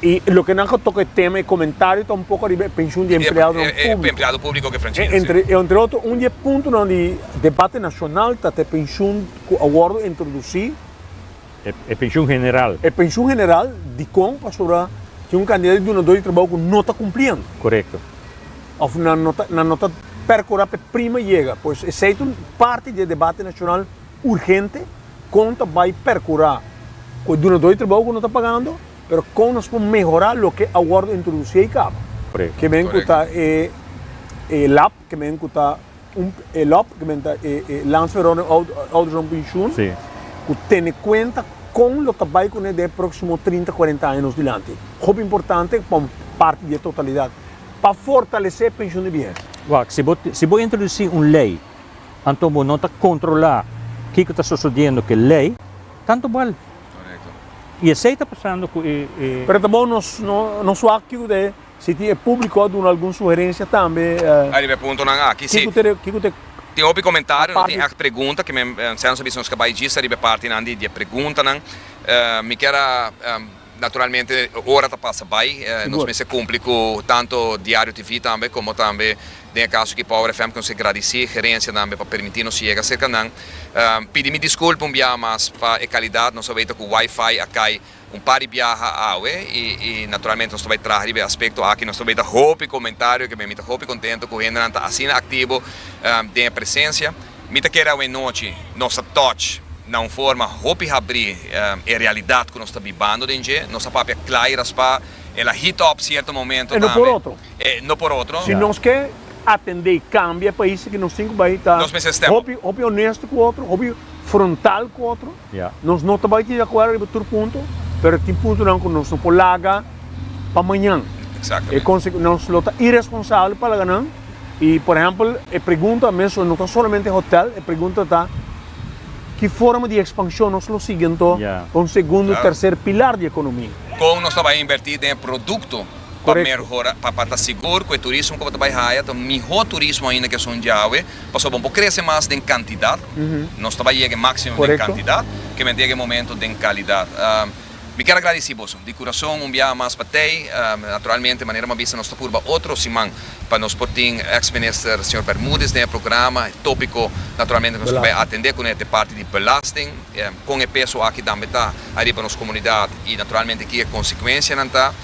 E loke nan ku toka e tema, e komentario ta un poko riba e penshun di e empleadonan públiko. E empleado públiko ke Franchino, si. E entre otro, un di e puntonan di debate nashonal ta ta e penshun ku a wòrdu introdusí. E penshun general. E penshun general, dikon? Pasobra tin un kantidad di dunadó di trabou ku no ta kumpliendo. Korekto. Òf nan no ta nan no ta perkurá pa e prima yega. Pues esei ta un parti di e debate nashonal urgente, kon ta bai perkurá ku e dunadó di trabou ku no ta pagando? Pero con nos por mehora loke a wordo introduci ey caba? Ke men cu ta e e lap, ke men cu ta un e lop, ke men ta e e Lands Verordening Ouderdom Pensioen, cu tene cuenta con lo ta bay cune den e proximo trinta, cuarenta aña nos dilanti. Hopi importante pa un parti di e totalidad, pa fortalece pensioen di biehesa. Wak, si bo si bo introduci un ley, anto bo no ta controla kico ta sosodiendo cu e ley, tanto bal. I esei ta pasando ku e. Pero ta bon nos nos wak kico si tin e publico a duna algun sugerencia tambe. Ariba e puntonan aki si. Kico ta e. Tin hopi comentario, no tin echt pregunta, ke mi anshenan so bisa nos ka bai djis ariba e partinan di e preguntanan. Mi kier a naturalmente e ora ta pasa bai, nos mester cumpli cu tanto Diario TV tambe como tambe. Den e kaso ki Power FM konsegí gradisí Gerensia tambe pa permití nos yega serka nan. Pidi mi diskulpa un biaha mas pa e kalidat, nos a wei ta ku Wi-Fi a kai un par di biaha awe i naturalmente nos ta bai traha riba e aspekto aki. Nos ta wei ta hopi komentario ke ben, mi ta hopi kontentu ku hendenan ta asina aktivo den e presensia. Mi ta kere awe nochi nos a touch na un forma hopi habrí e realidat ku nos ta bibando den dje. Nos a papia kla i raspá, el a heat up sierto momento tambe. e no por otro. Si nos ke atendé kambia e pais aki nos tin ku bai ta hopi hopi onesto ku otro, hopi frontal ku otro. Nos no ta bai di akuerdo riba tur punto, pero tin puntonan ku nos no por laga pa mañan. E konse nos lo ta iresponsabel pa laga nan i por ehèmpel e pregunta mesun no ta solamente hotèl, e pregunta ta ki forma di ekspanshon nos lo sigui anto kon segundu, terser pilar di ekonomia. Kon nos ta bai invertí den e produkto pa merhora pa pa ta sigur ku e turismo ku bo ta bai haya ta un mihó turismo ainda ku esun djawe pasobra bo por krese mas den kantidat nos ta bai yega e máksimo den kantidat kimente yega e momento den kalidat mi kier a gradisí boso di kurason un biaha mas pa tei naturalmente manera mi a bisa nos ta purba otro siman pa nos por tin eks minister señor Bermudez den e programa e tópiko naturalmente nos ta bai atendé kuné ta e parti di belasting kon e peso aki tambe ta ariba nos komunidat i naturalmente ki e konsekuensianan ta.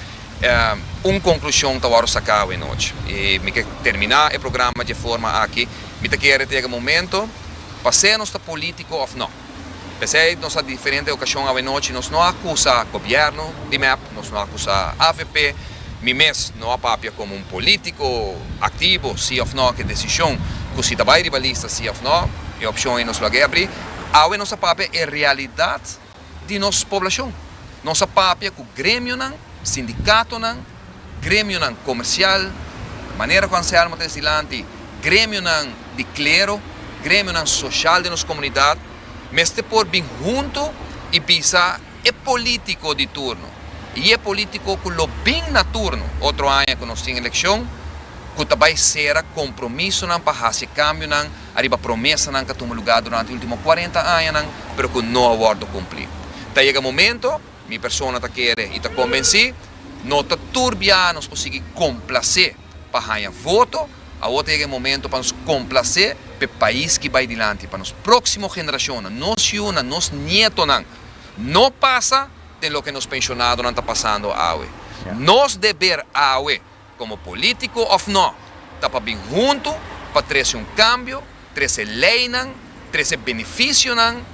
Un conclusion ta wòrdu sacá awe nochi. I mi ke terminá e programa dje forma aki. Mi ta kere tega momento pa sea nos ta politico of no. P'esei nos a diferente ocasion awe nochi nos no a acusa gobierno di mep, nos no a acusa avp. Mi mes no a papia como un politico activo si of no ke decision cu si ta bay riba lista si of no. E opcion ey nos lo a ke abrí. Awe nos a papia e realidad. di nos poblacion. Nos a papia cu gremionan, sindicatonan, gremionan comercial, manera cu Anselmo ta isi dilanti, gremionan di clero, gremionan social den nos comunidad, mester por bin hunto y bisa e politico di turno y e politico cu lo bin na turno, otro aña cu nos tin eleccion, cu ta bay cera compromisonan pa haci e cambionan, Ariba promesanan ka tuma lugá durante e último kuarenta añanan, pero ku no a wòrdu kumplí. Ta yega momento, mi persona ta kere i ta kombensí, no ta tur bianos por sigui komplasé pa haña voto, awor ta yega e momento pa nos komplasé pa e pais ki bai dilanti, pa nos próksimo generashonnan, nos yunan, nos nietonan, no pasa den loke nos penshonadonan ta pasando awe. Nos deber awe komo polítiko òf nò, ta pa bin huntu pa trese un kambio, trese leinan, trese benefisionan.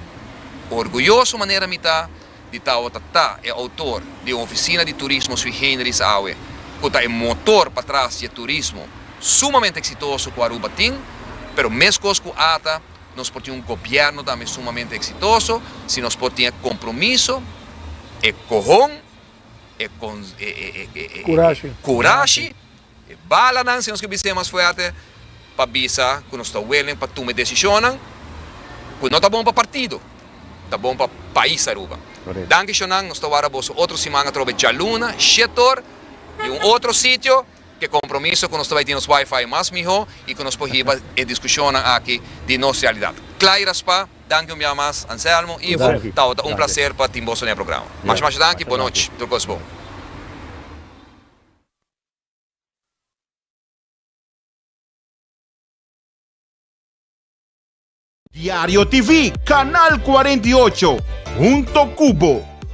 Orguyoso manera mi ta di tawata ta e outor di un ofisina di turismo sui generis awe, ku ta e motor patras dje turismo sumamente eksitoso ku Aruba tin, pero meskos ku ata nos por tin un gobièrnu tambe sumamente eksitoso si nos por tin e kompromiso, e kohon, e kurashi, e balanan, si nos ke bis'é mas fuerte, pa bisa ku nos ta willing pa tuma e desishonnan ku no ta bon pa partido, ta bon pa pais Aruba. Danki Shonan, nos ta wara boso otro siman atrobe djaluna, Shetor i un otro sitio. Te compromiso cu nos ta bay tin nos wifi mas miho y cu nos por hiba e discusionnan aki di nos realidad. Cla y raspa, danki un bia mas Anselmo, Ivo, Tabata un placer pa tin boso den e programa. Masha masha danki, bon nochi, tur cos bon. Diario TV, Canal cuarenta y ocho, hunto cu bo.